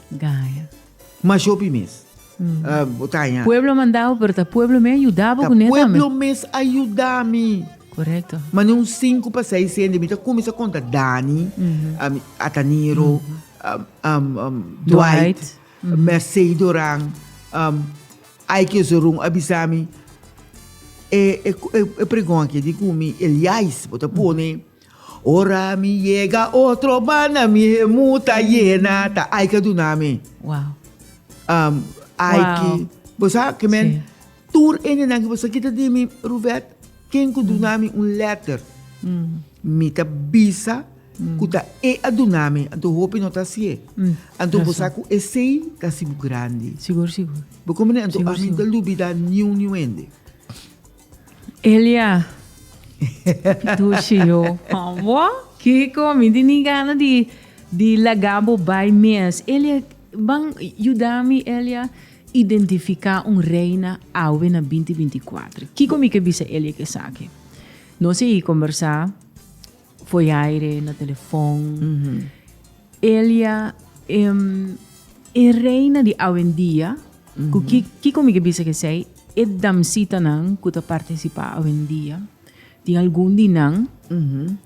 [SPEAKER 1] mashopi
[SPEAKER 2] mes. bo ta haña. Pueblo a manda bo
[SPEAKER 1] pero ta pueblo mes a yuda bo kuné tambe. Ta pueblo mes a
[SPEAKER 2] yuda mi. Korekto.
[SPEAKER 1] Manda un sinku
[SPEAKER 2] pa seis hende mi ta kuminsá konta Dani, Ataniro, Dwight, Mercey Doran, Aike Zorun a bisa mi e pregon aki di ku mi Eliais bo ta pone Ora mi yega otro banda mi hemú ta yena, ta ai ka duna mi. Wow. Um,
[SPEAKER 1] ai wow. ki,
[SPEAKER 2] bo sa, ki men, sí. tur endenan ki bo sa kita di mi, Ruvet, ken ku mm. duna mi un letter, mm. mi ta bisa mm. ku ta e a duna mi, anto hopi no ta si e. Mm. Anto bo sa ku e sei ta sibu grandi. Sigur, sigur. Bo
[SPEAKER 1] komene, anto
[SPEAKER 2] sigur, a mi ta lubida niu niu ende. Elia,
[SPEAKER 1] Pitushi yo, bo? Kiko, mi di ni gana di, di laga bo bai mes. Elia, ban yuda mi Elia identifica un reina awe na binti binti kuater. Kiko mi ke bisa Elia ke esaki? Nos a conversa. Foi aire, na telefon. Elia, em, e reina di awendia, ku ki, kiko mi ke bisa ke esei, e damsitanan ku ta partisipá awendia, tin algun di nan,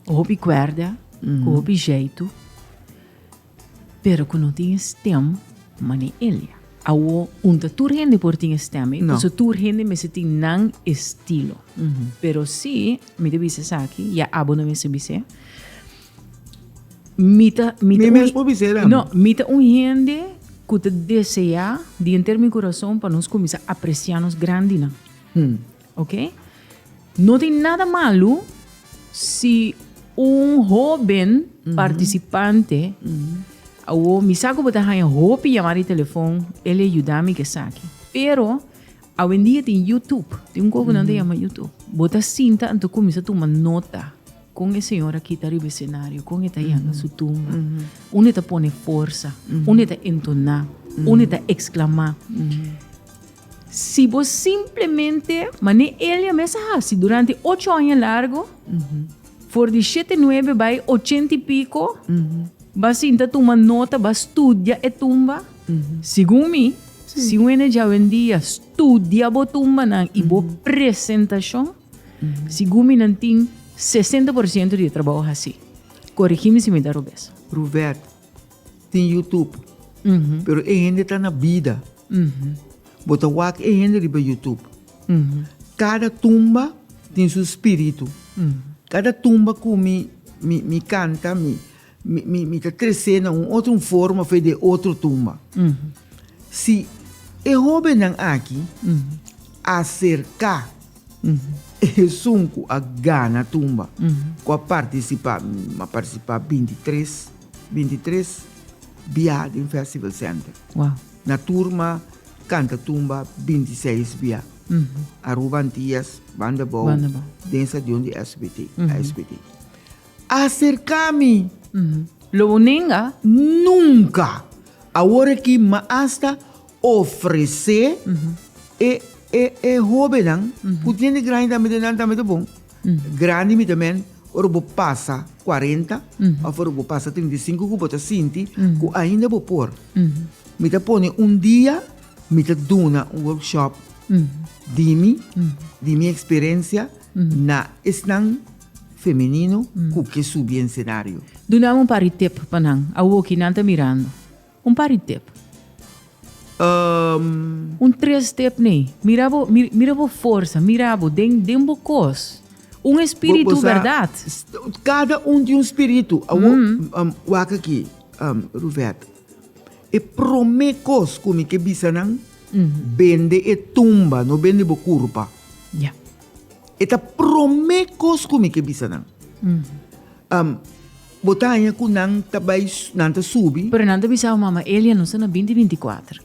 [SPEAKER 1] hopi kuerda, ku hopi jeitu. Pero cu no tin e stem mane Elia. Awo un ta tur hende por tin e stem ei. Paso tur hende mester
[SPEAKER 2] tin
[SPEAKER 1] nan estilo. Pero si mi ta bisa esaki ya abo no mester bis'e. Mi ta mi ta un hende
[SPEAKER 2] no mi ta un
[SPEAKER 1] hende cu ta desea dinter mi curason pa nos cuminsa aprecia nos grandinan. Ok. No tin nada malu si un hoben participante awo mi sa ku bo ta haña hopi yama di telefon el a yuda mi ku esaki. Pero awendia tin YouTube, tin un kos ku nan ta yama YouTube. Bo ta sinta anto kuminsá tuma nota kon e señor a kita riba e senario, kon e ta yanga su tumba, unda e ta pone forsa, unda e ta entoná, unda e ta eksklamáa. Si bo simplemente, mané Elia mes a hasi durante ocho aña largo, for di shete nuebe bai ochenta y pico, ba sinta tuma nota, ba studia e tumba. Segun mi, si un ene jawendia studia bo tumbanan y bo presentacion, segun mi nan tin sesenta por ciento di e trabao hasi. Coregi mi si mi ta robes. Ruvert,
[SPEAKER 2] tin YouTube, pero e hende ta na bida. Bo ta wak e hende riba YouTube. Cada tumba tin su spiritu. Cada tumba cu mi mi canta mi mi ta trece na un otro forma of de otro tumba. Si e hobennan aki a cerca esun cu a gana tumba cu a participa, mi a participa binti tres, binti tres. bia den Festival Center. Wow. Na
[SPEAKER 1] turma
[SPEAKER 2] kanta tumba 26 bia. Aruba Antias, Banda Bou, Banda Bou. den stadion di SBT, ASBT. Aserka mi, Lo uninga?
[SPEAKER 1] nunka!
[SPEAKER 2] Awor aki m'a asta ofresé e, e, e hobennan ku tiene granja tambe den nan tambe ta bon. Grandi mi ta men ora bo pasa cuarenta of ora bo pasa trinta y cinco cu bo ta sinti cu ainda bo por. Mi ta pone un dia mi ta duna un workshop di mi, di mi experiencia na esnan femenino cu ke subi en scenario. Dunami un par di tip
[SPEAKER 1] pa nan awoki nan ta mirando. Un par di tep. Un tres tep ne. Mira bo, mira bo forsa, mira bo den, den bo kos. Un espiritu bèrdat. Kada
[SPEAKER 2] un tin un spiritu. Awor, wak aki, Ruvèt. E promé kos ku mi ke bisa nan, bende e tumba, no bende bo kurpa. Ya.
[SPEAKER 1] E ta
[SPEAKER 2] promé kos ku mi ke bisa nan. Bo ta haña ku nan ta bai, nan ta subi. Pero nan ta bisa bo mama,
[SPEAKER 1] Elia no sta na binti binti kuater.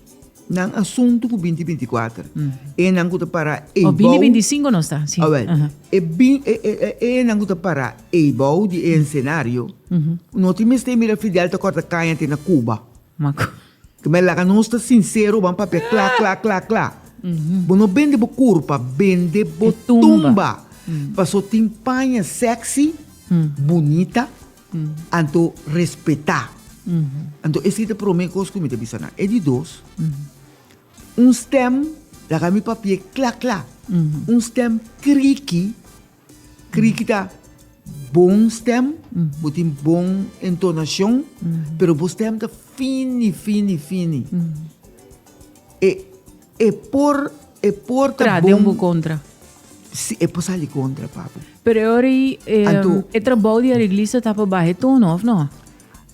[SPEAKER 1] Nan
[SPEAKER 2] asuntu ku binti binti kuater. E nan ku ta para eibou. O binti binti sinku no sta,
[SPEAKER 1] si. Awèl, e bin, e,
[SPEAKER 2] e, e, e nan ku ta para eibou di e ensenario no tin mester mira Fidel ta kòrta kaña te na Kuba. Maku.
[SPEAKER 1] Cu me laga
[SPEAKER 2] nos ta sincero ban papia cla cla cla cla. Bo no bende bo curpa, bende bo E tumba. tumba. Paso tin paña sexy, bunita, anto respeta. Anto esi ta prome cos cu mi ta bisa nan. E di dos, un stem laga mi papia cla cla, un stem creaky, Kriki ta bon stem, bo tin bon entonashon, pero bo stem ta fini, fini, fini. E, e por, e por ta Tra den bon, bo kontra.
[SPEAKER 1] si, e
[SPEAKER 2] por sali kontra, papu. Pero e ora ei,
[SPEAKER 1] eh, Anto- e trabou di areglista ta pa baha e tono, of no?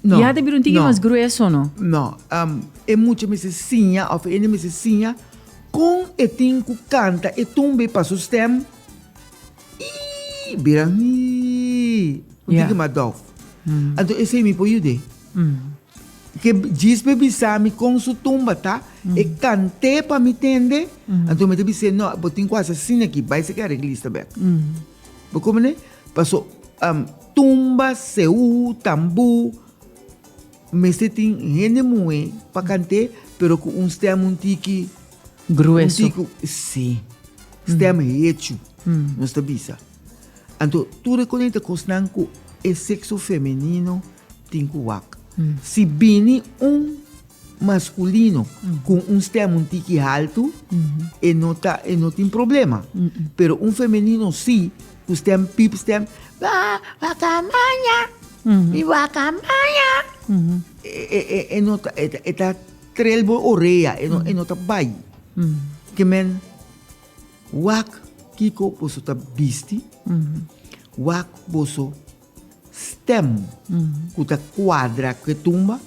[SPEAKER 1] No, Ya ta bira
[SPEAKER 2] un tiki no. mas
[SPEAKER 1] grueso, no? No, um,
[SPEAKER 2] e mucha mester siña, of e hende mester siña, kon e tin ku kanta e tumbe pa su stem, Ii, bira ii, un tiki mas dof. Anto esei mi por yud'é. Ke djisbe bisa mi kon su tumba ta, e kant'é pa mi tende, anto mi ta bis'é, no, bo tin ku hasi asin aki, bai seki areglista bek. Bo kobrane? Paso, tumba, seú, tambú, mester tin hende muhé pa kant'é, pero ku un stèm un tiki. Grueso. Un tico,
[SPEAKER 1] sí.
[SPEAKER 2] Stem hecho. Nos ta bisa. Anto, tur e cosnan ta cosnan cu e sexo femenino tin cu wak. Si bini un masculino cu un stem un tiki halto, e no ta, e no tin problema. Pero un femenino sí, cu stem pip, stem, ah, wakamaya, mi wakamaya. E, e, e, e no ta, e ta, e ta. Trel bo orea e no e no ta bai. Ke men wak kiko boso ta bisti, wak boso stem ku ta kuadra ku e tumba,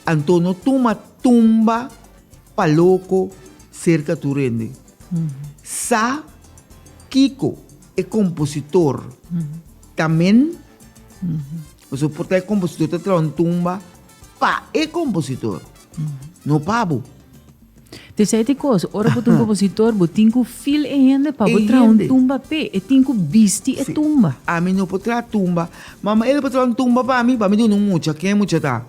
[SPEAKER 2] anto no tuma tumba pa loko serka tur hende. Sa kiko e kompositor ta men, boso por ta e kompositor ta traha un tumba. Pa e kompositor, no pa bo. Te
[SPEAKER 1] sei te kos, ora bo ta un kompositor, bo tin ku feel e hende pa bo traha un tumba p'e. E tin ku bisti e tumba. Sí. Ami no por traha
[SPEAKER 2] tumba. Ma ma el por traha un tumba pa mi, pa mi duna un mucha. Ken e mucha ta?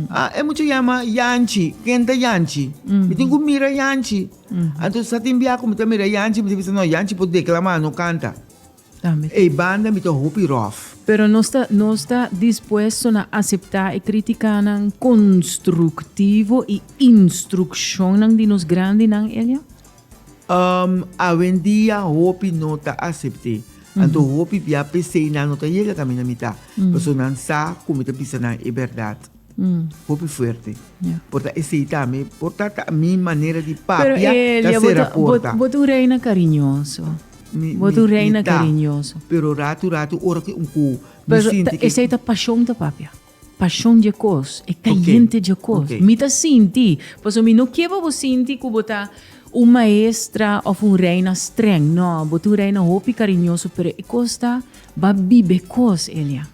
[SPEAKER 2] A, e mucha yama Yanchi. Ken ta Yanchi? Mi tin ku mira Yanchi. Anto sa tin biaha ku mi ta mira Yanchi, mi ta bisa, no, Yanchi por deklama, no kanta. Ey banda mi ta hopi rof. Pero nos ta nos
[SPEAKER 1] ta dispuesto na acepta e criticanan constructivo y instruccionnan di nos grandinan, Elia? Um, awendia
[SPEAKER 2] hopi no ta acepte. Anto hopi bia p'esey nan no ta yega ta mi na mita, paso nan sa cu mi ta bisa nan e berdad. Hopi fuerte. Por ta esei tambe. Por ta ta mi manera di papia ta sera porta. Bo ta un reina
[SPEAKER 1] kariñoso. Bo ta un reina kariñoso. Pero ratu ratu
[SPEAKER 2] ora ku un ku mi sinti ke. Esei
[SPEAKER 1] ta pashon ta papia. Pashon dje kos. E kayente dje kos. Mi ta sinti. Pasobra mi no ke pa bo sinti ku bo ta un maestra òf un reina strèng. No, bo ta un reina hopi kariñoso pero e kos ta ba biba e kos, Elia.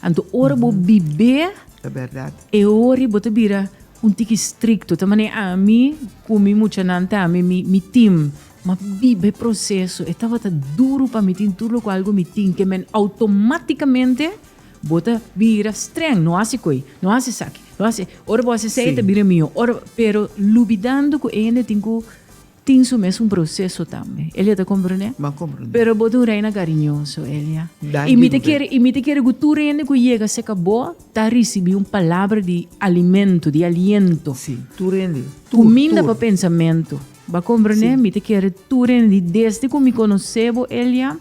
[SPEAKER 1] Anto ora bo bibé Ta berdad.
[SPEAKER 2] e ori bo ta
[SPEAKER 1] bira un tiki strikto ta mane ami ku mi muchanan ta ami mi mi tin ma biba e proseso e tabata duru pa mi tin tur loke algu mi tin ke men outomatikamente bo ta bira streng no hasi koe no hasi esaki no hasi ora bo hasi esei e ta bira mihó ora pero lubidando ku e hende tin ku Tin su mes un proceso tambe. Elia ta compronde? Bo a compronde. Pero bo ta
[SPEAKER 2] un reina
[SPEAKER 1] cariñoso, Elia. Danki, Y mi ta muher. kere, y mi ta kere cu tur hende cu yega cerca bo ta ricibi un palabra di alimento, di aliento. Sí, tur hende.
[SPEAKER 2] Tur, Cuminda tur. pa
[SPEAKER 1] pensamento. Bo a compronde? Sí. Mi ta kere tur hende di desde cu mi conoce bo, Elia,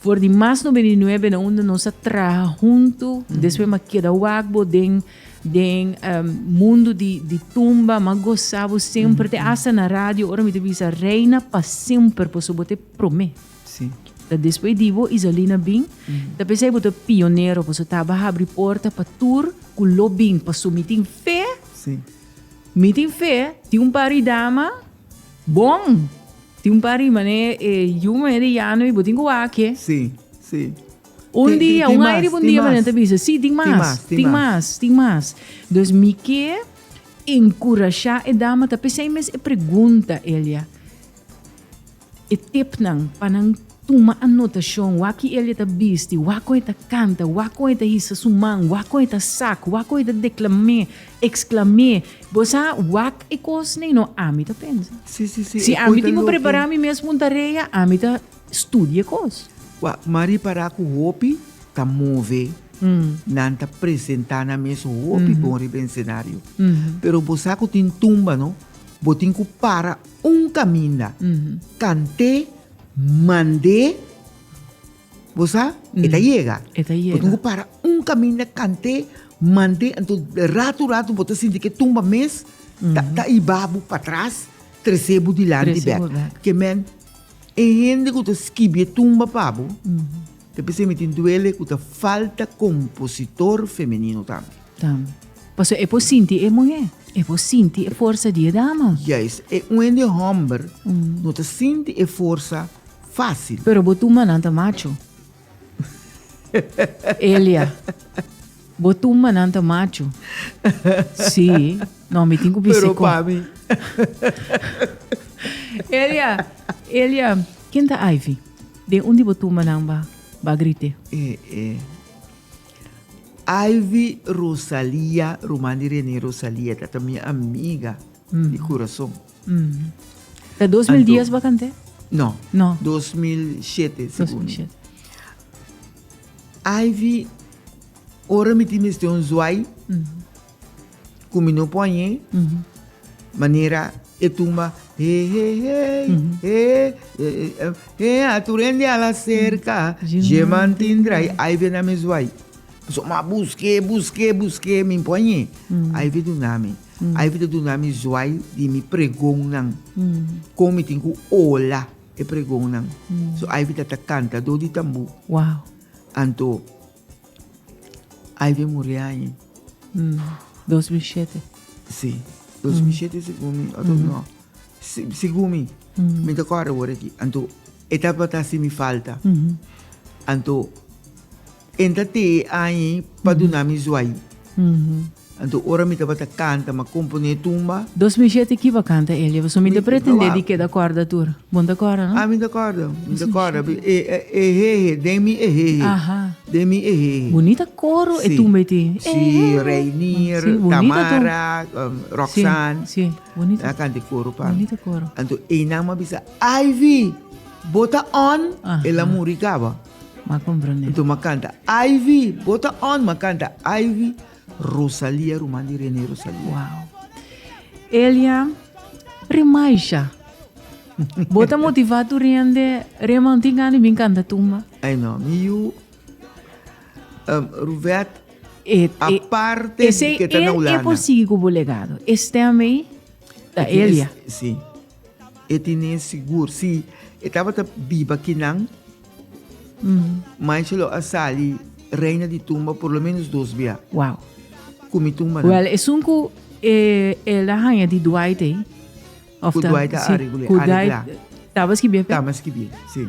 [SPEAKER 1] for di mas noventa y nuebe na unda nos a traha hunto, despues mi a keda wak bo den. Den mundu di tumba, ma goza bo semper, te hasta na radio ora mi te bisa reina pa semper por su bo te prome. Sí. Ta
[SPEAKER 2] después di bo
[SPEAKER 1] Isalina bin, ta pensai bo ta pionero por su taba habri porta pa tur ku lo bin pa su mi tin fe, Sí.
[SPEAKER 2] mi tin
[SPEAKER 1] fe, tin un par di dama bon, tin un par di mané e yu mané di yano i bo tin ku wak e. Sí, sí.
[SPEAKER 2] Un
[SPEAKER 1] dia, un aire un dia manera ta bisa, sí, tin mas, tin mas, tin mas. Dus mi ke enkurashá e dama ta p'esei mes e pregunta, Elia. E tipnan pa nan tuma anotashon, wak ki Elia ta bisti, wak kon e ta kanta, wak kon e ta hisa su man, wak kon e ta sak, wak kon e ta deklam'é, eksklam'é. Bo sa wak e kosnan? No, ami ta pensa. Sí, sí, sí. Si ami
[SPEAKER 2] tin ku
[SPEAKER 1] prepará mi mes un tarea, ami ta. Studia e kos. Kua Marie para
[SPEAKER 2] ku hopi ta move, nan ta presentá nan mes hopi bon riba e esenario. Pero bo sa ku tin tumba no, bo tin ku para un kaminda, kant'é, mand'é, bo sa, e ta yega. E ta yega. Bo tin ku para un kaminda, kant'é, mand'é, anto ratu ratu bo ta sinti ku e tumba mes ta ta iba bo patras, trese bo dilanti bèk. Trese bo bèk. Ke men. E hende ku ta skibié tumba pa bo ta bisa e mitin duele ku ta falta kompositor femenino tambe. Tambe. Pasobra e por
[SPEAKER 1] sinti e muhé. E por sinti e forsa di e dama. Juist. E un hende
[SPEAKER 2] hòmber no ta sinti e forsa fásil. Pero bo tumbanan
[SPEAKER 1] ta macho. Elia, bo tumba nan ta machu. Si, no, mi tin ku bisi Pero pa mi. Elia, Elia, ken ta Ivy? Den un di bo tumba nan ba, ba grite. E, e.
[SPEAKER 2] Ivy Rosalia, ruman di Rene Rosalia, ta ta mi amiga di kurason.
[SPEAKER 1] Ta dos mil dies bakant'e? No. No.
[SPEAKER 2] Dos mil
[SPEAKER 1] shete,
[SPEAKER 2] segundo. Ivy, ora mi tin mester un zwai, ku mi no por añ'e, manera e tumba, he, he, hey, he, he, a tur hende a la serka, dje man tin drai, Ivy a na mi zwai. Pasobra mi a busk'e, busk'e, busk'e, mi no por añ'e. Ivy duna mi. Ai por ta duna mi zuai di mi pregonnan, kon mi tin ku ola e pregonnan. So ai por ta ta kantadó di tambú. Anto ai por muri aña. Dos mil
[SPEAKER 1] shete. Sí,
[SPEAKER 2] dos mil shete segun mi, òf no, segun mi, mi ta kòrda wòrda aki. Anto e tabata hasi mi falta. Anto. En ta te e añi pa duna mi zuai. Anto ora mi tabata canta ma componé tumba. Dos mil siete ki bo
[SPEAKER 1] canta Elia pasobra mi ta pretendé di keda corda tur. Bon ta corda no? Ah mi ta corda, mi
[SPEAKER 2] ta corda. Ehehe, den mi ehehe. Aha.
[SPEAKER 1] Den mi ehehe.
[SPEAKER 2] Bunita coro
[SPEAKER 1] e tumba ei tin. Ehehe. Si,
[SPEAKER 2] Reinier, Tamara, Roxanne. Si, si, bunita.
[SPEAKER 1] A canta e coro pa mi.
[SPEAKER 2] Bunita coro. Anto
[SPEAKER 1] einan m'a bisa,
[SPEAKER 2] Ivy, bo ta on? Aha. El a muri caba. Ma comprende.
[SPEAKER 1] Enton ma canta
[SPEAKER 2] Ivy, bota on, ma canta Ivy, Rosalia, Ruman di René Rosalia. Wow.
[SPEAKER 1] Elia, Remaisha. Bota motiva tu rende, Reman, tin gani bin canta tumba. Ay no, mi you,
[SPEAKER 2] um, Ruvet, E, aparte e, de que está na Holanda. E por sigue con
[SPEAKER 1] legado. Este a mí, da Elia. Sí.
[SPEAKER 2] E tine sigur si e tabata biba kinan, Mansha lo a sali reina di tumba por lo menos dos bia. Wow.
[SPEAKER 1] Ku mi tumbanan.
[SPEAKER 2] Well, esun ku
[SPEAKER 1] e el a haña di Dwight ei. Ku Dwight
[SPEAKER 2] a areglá. Ku Dwight taba skibia
[SPEAKER 1] p'e? Taba skibia, si.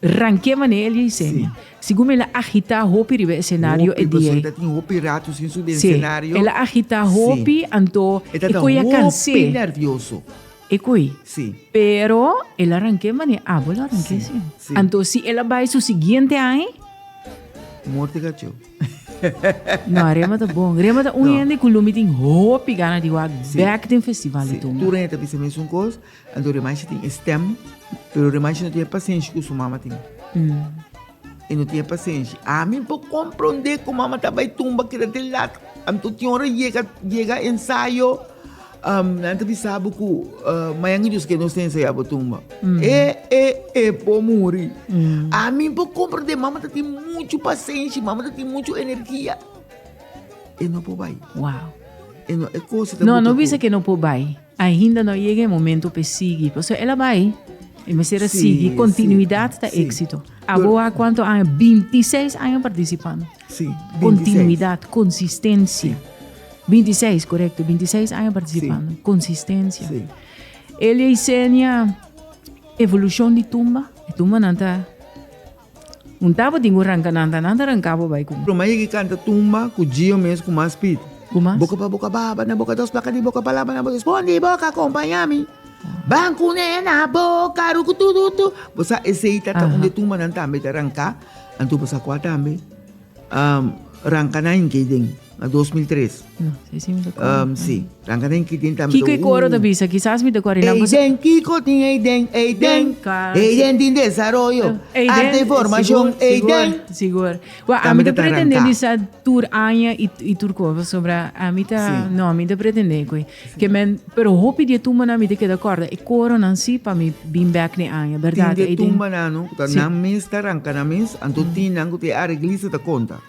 [SPEAKER 1] Ranke mane el yei seña. Sigun mi el a agita hopi riba e senario e dia ei.
[SPEAKER 2] Si, el a agita
[SPEAKER 1] hopi anto e koe a kanse.
[SPEAKER 2] E koe.
[SPEAKER 1] Pero
[SPEAKER 2] el
[SPEAKER 1] a ranke mane abo lo a ranke si. Anto si el a bai su siguiente aña. No, Rema ta bon. Rema ta un hende ku lo mi tin hopi gana di wak bek den festival i tur.
[SPEAKER 2] Anto Rimanchi tin e stem, pero Rimanchi no tin e pasenshi ku su mama tin. E no tin e pasenshi. Ami por komprondé ku mama ta bai tumba keda te lat. Anto tin ora yega, yega ensayo, nan ta bisa bo ku mañana dus kenos ta ensaya bo tumba. E, e, e por muri. Ami por komprondé, mama ta tin muchu pasenshi, mama ta tin muchu energia. E no por bai. Wow.
[SPEAKER 1] E no, e
[SPEAKER 2] kos ta buta ku. No, no bisa ku e no por
[SPEAKER 1] bai. Ainda no a yega e momento p'e sigui, pasobra el a bai, e mester a sigui. Kontinuidat ta éksito. Abo a kuantu aña? Binti seis aña partisipando.
[SPEAKER 2] Kontinuidat,
[SPEAKER 1] konsistensia. Binti seis, korekto, binti seis aña partisipando. Konsistensia.
[SPEAKER 2] Elie
[SPEAKER 1] Isenia, evolushon di tumba, e tumbanan ta. Un tabo tin ku ranka nan ta nan ta ranka bo bai ku. Promé yegi kanta tumba
[SPEAKER 2] ku Gio mes ku mas spiritu. Ku mas. Boka pa boka
[SPEAKER 1] baba
[SPEAKER 2] na boka dos plaka di boka palabra na boka espondi boka akompañá mi Ban kuné na boka rukutututu bo sa esei ta ta un di tumbanan tambe ta ranka anto bo sa kua tambe. Ranca na Inkeyden na dos mil tres. No, e si mi ta
[SPEAKER 1] cuara. Um, si, ranca na
[SPEAKER 2] Inkeyden ta Kiko e coro ta bisa?
[SPEAKER 1] Kisas mi ta cuara y nan por sa. Eyden, Kiko tin
[SPEAKER 2] Eyden, Eyden, Eyden tin desaroyo, arte y formacion, Eyden. Sigur, sigur, sigur. Wa,
[SPEAKER 1] ami ta pretende di sa tur aña y tur cosa, pasobra ami ta, no, ami ta pretende cu e. Ke men, pero hopi di e tumbanan mi ta keda kòrda e koronan si pa mi bin bèk den aña, bèrdat? Tin di e tumbanannan ku
[SPEAKER 2] ta nan mes ta ranka nan mes, anto tin nan ku ta e areglista ta konta,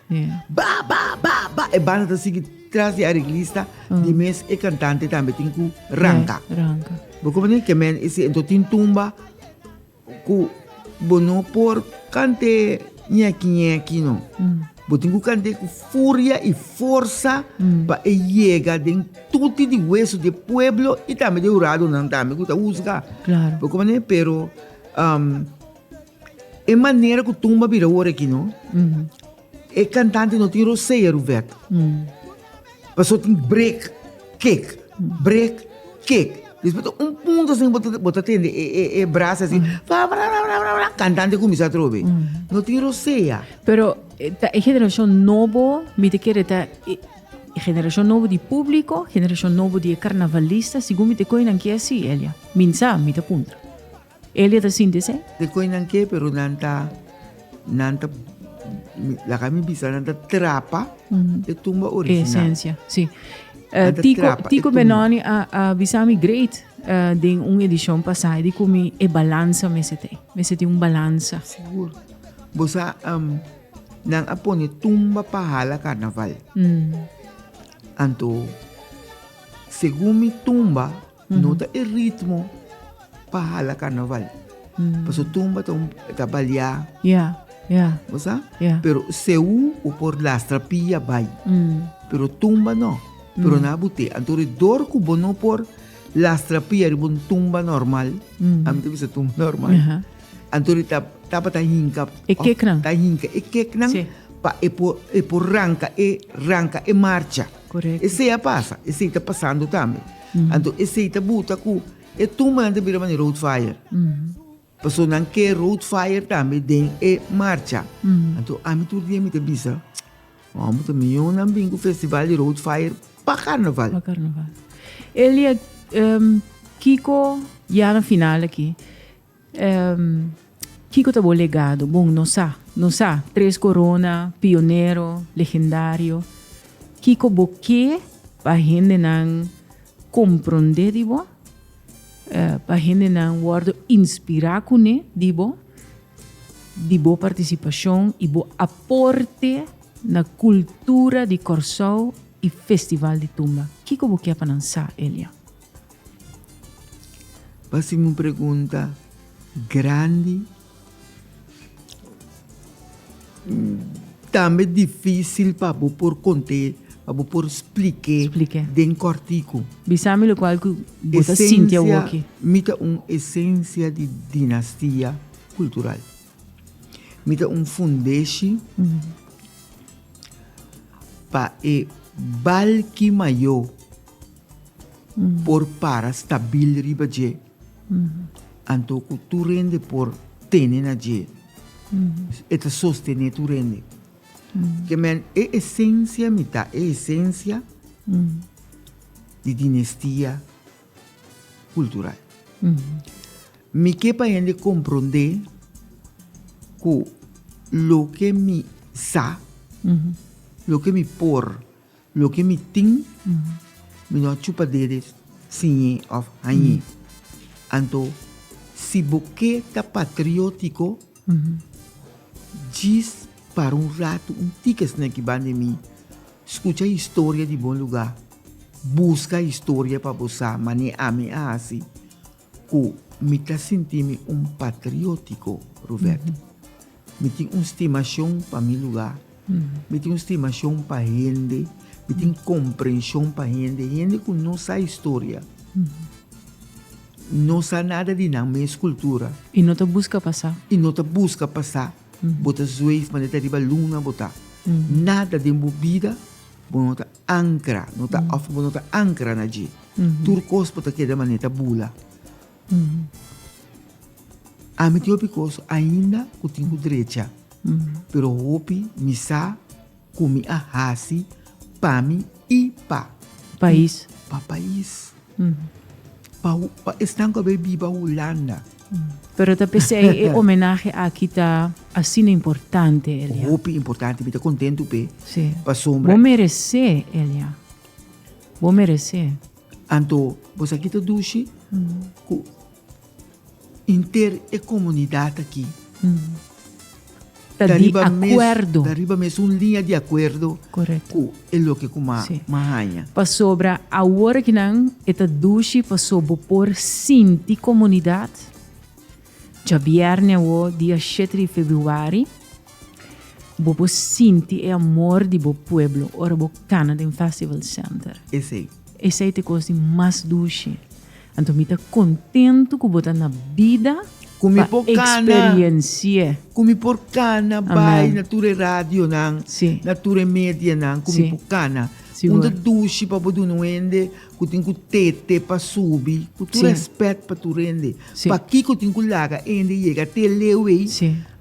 [SPEAKER 2] Ba ba ba ba e banda ta sigui tras di areglista, di mes e kantante tambe tin ku ranka. Bo koprendé? Ke men i si anto tin tumba Ku bo no por kante ñeki ñeki no. Bo tin ku kante ku furia i forsa pa e yega den tuti di weso di e pueblo i tambe di e huradonan tambe ku ta husga. Claro. Bo kompran e? Pero e manera ku tumba bira wor aki no. E cantante no tin rosea ruvet. Paso tin break kick, break kick. Despues tin un punto así bo ta tende e, e, e bras así. Bra, bra, bra, bra, bra, bra. Cantante cuminsa otro vez. No tin rosea. Pero eh, ta
[SPEAKER 1] e generacion nobo, mi ta kere ta e generacion nobo di publico, generacion nobo di e carnavalista, segun mi ta cu enan ki asi, Elia? Min sa, mi ta puntra. Elia ta sinti esei? Te koe nan ke, pero
[SPEAKER 2] nan ta, nan ta, laga mi bisa, nan ta trapa e tumba original. E esencia, si.
[SPEAKER 1] Nan ta trapa
[SPEAKER 2] e tumba. Tico Benoni a,
[SPEAKER 1] a bisa mi great den un edicion pasa di cu mi e balansa mester te. Mester tin un balansa. Sigur.
[SPEAKER 2] Bo sa, um, nan a pone tumba pa hala carnaval. Anto, segun mi tumba, No ta e ritmo pa hala carnaval. Mm. Paso tumba ta, ta balear. Yeah.
[SPEAKER 1] Yeah. Osa? Yeah.
[SPEAKER 2] Pero seu o por lastra pia bai. Mm. Pero tumba no. Pero mm. na bute. Antore dor ku bo no por lastra pia riba un tumba normal. Mm. Am te bisa tumba normal. Uh-huh. Antore ta tapa ta hinka. E keknan. Ta
[SPEAKER 1] hinka e keknan.
[SPEAKER 2] Sí. Pa e por,
[SPEAKER 1] e
[SPEAKER 2] por ranka e ranka e marcha. Correcto. Esey a
[SPEAKER 1] pasa, esey
[SPEAKER 2] ta pasando tambe. Anto esey ta buta cu e tuma nan ta bira manera road fire. Paso nan ke road fire tambe den e marcha. Anto ami tur dia mi ta bisa, hombre, ta miyon nan bin cu festival di road fire pa carnaval. Pa carnaval.
[SPEAKER 1] Elia, em, kico, ya na final aki, Kiko ta bo legado? Bon, nos sa, nos sa, tres corona, pionero, legendario. Kiko bo ke pa hendenan comprende di bo? Pa hendenan wordo inspira kuné di bo? Di bo participacion i bo aporte na cultura di Corsou i Festival di Tumba. Kiko bo ke pa nan sa, Elia?
[SPEAKER 2] Pa sin un pregunta grandi, tambe difisil pa bo por konté, pa bo por splik'é den kòrtiku. Bisa mi lokual ku
[SPEAKER 1] bo ta sinti awoki. Esensia, mi ta un
[SPEAKER 2] esensia di dinastia kultural. Mi ta un fundeshi pa e balki mayó. por para stabil riba dje, anto ku tur rende por tene na dje. E ta sostené tur rende. Ke men e esensia mi ta e esensia di dinestia kultural. Mi ke pa hende komprondé ku loke mi sa, loke mi por. Loke mi tin, mi no a chupa dede siñ'é òf hañ'é. Anto, si bo ke ta patriótiko, djis para un ratu un tik esnan ki ban di mi, skucha historia di bon lugá, buska historia pa bo sa mané ami a hasi. Ku mi ta sinti mi un patriótiko, Ruvèt. Mi tin un stimashon pa mi lugá. Mi tin un stimashon pa hende. Mi tin komprenshon pa hende. Hende ku no sa historia, no sa nada di nan mes kultura. I no ta buska pa
[SPEAKER 1] sa. I no ta buska pa sa. Bo
[SPEAKER 2] ta zweef manera ta riba luna bo ta. Nada den bo bida bo no ta. Ankra, no ta òf bo no ta ankra na dje. Tur kos por ta keda manera ta bula. Ami tin hopi kos ainda ku tin ku drecha, pero hopi mi sa ku mi a hasi pa mi i pa. Pais.
[SPEAKER 1] Pa pais.
[SPEAKER 2] Pa esnan ku a bai biba Hulanda. Pero ta
[SPEAKER 1] pesey e homenahe aki ta asina importante Elian. Hopi importante, mi ta
[SPEAKER 2] contento pe. Sí. Pasombra. Bo merece
[SPEAKER 1] Elian. Bo merece. Anto,
[SPEAKER 2] pues aki ta dushi mm -hmm. ku inter e comunidad aki mm -hmm.
[SPEAKER 1] ta di akuerdo. Ta riba mes un liña
[SPEAKER 2] di akuerdo ku e
[SPEAKER 1] loke ku
[SPEAKER 2] m'a haña. Pasobra
[SPEAKER 1] awor aki nan e ta dushi paso bo por sinti komunidat djabièrnè awó dia shete di februari bo por sinti e amor di bo pueblo ora bo kana den Festival Center. Esei. Esei ta e kos di mas dushi. Anto mi ta kontentu ku bo ta na bida pa
[SPEAKER 2] eksperensi'é.
[SPEAKER 1] Ku mi por
[SPEAKER 2] kana bai na tur e radionan, na tur e
[SPEAKER 1] medianan
[SPEAKER 2] ku mi por kana.
[SPEAKER 1] Un
[SPEAKER 2] ta dushi
[SPEAKER 1] pa bo
[SPEAKER 2] duna un hende ku tin ku tete pa subi ku tur rèspèt
[SPEAKER 1] pa
[SPEAKER 2] tur hende. Pakiko tin
[SPEAKER 1] ku laga
[SPEAKER 2] e hende yega te leu ei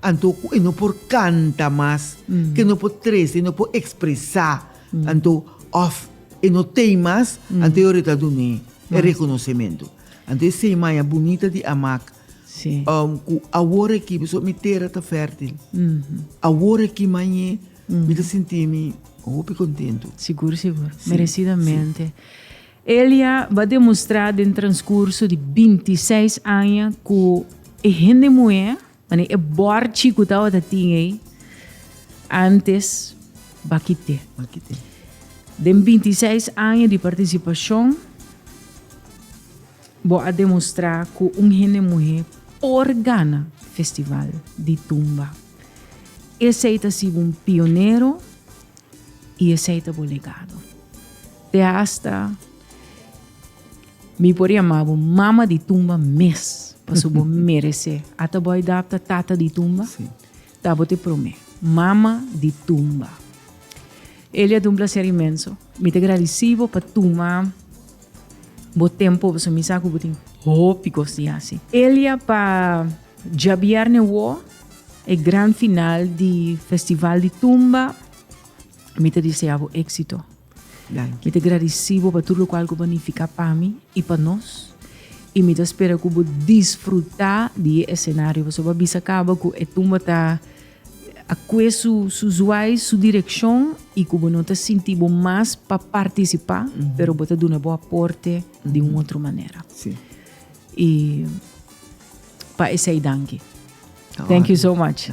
[SPEAKER 2] anto
[SPEAKER 1] ku e no
[SPEAKER 2] por kanta mas, ku e no por trese, e no por ekspresá anto òf. E no tei mas, anto yo reta dun'é e rekonosementu. Anto e semaña bunita di Amak,
[SPEAKER 1] ku awor
[SPEAKER 2] aki, pasobra mi tera ta fèrtil, awor aki mañ'é mi ta sinti'mi hopi kontentu. Sigur, sigur.
[SPEAKER 1] Meresidamente. Elia ba demostrá den transkurso di binti seis aña ku e hende muhé Mane e bor chi ku tabata tin ei antes ba kité. Ba kité.
[SPEAKER 2] Den binti
[SPEAKER 1] seis aña di partisipashon bo a demostrá ku un hende muhé por gana festival di tumba. Esei ta sibi un pionero i esei ta bo legado. Te hasta Mi por yama bo mama di tumba mes, paso bo merece. Ata bo ay dap ta tata di tumba, sí. ta bo
[SPEAKER 2] te prome,
[SPEAKER 1] mama di tumba. Elia, un placer inmenso. Mi te agradeci bo pa tuma bo tempo, paso mi sa cu bo tin hopi cos di hasi. Elia, pa djabierne wo, e gran final di Festival di Tumba, mi ta disea bo éxito. Mi ta gradisí bo pa tur lokual ku bo a nifiká pa mi i pa nos, i mi ta spera ku bo disfrutá di e esenario. Pasobra bo a bisa kaba ku e tumba ta akue su zuai, su direkshon i ku bo no ta sinti bo mas pa partisipá, pero bo ta duna bo aporte di un otro manera.
[SPEAKER 2] I
[SPEAKER 1] pa esei danki. Thank you so
[SPEAKER 2] much.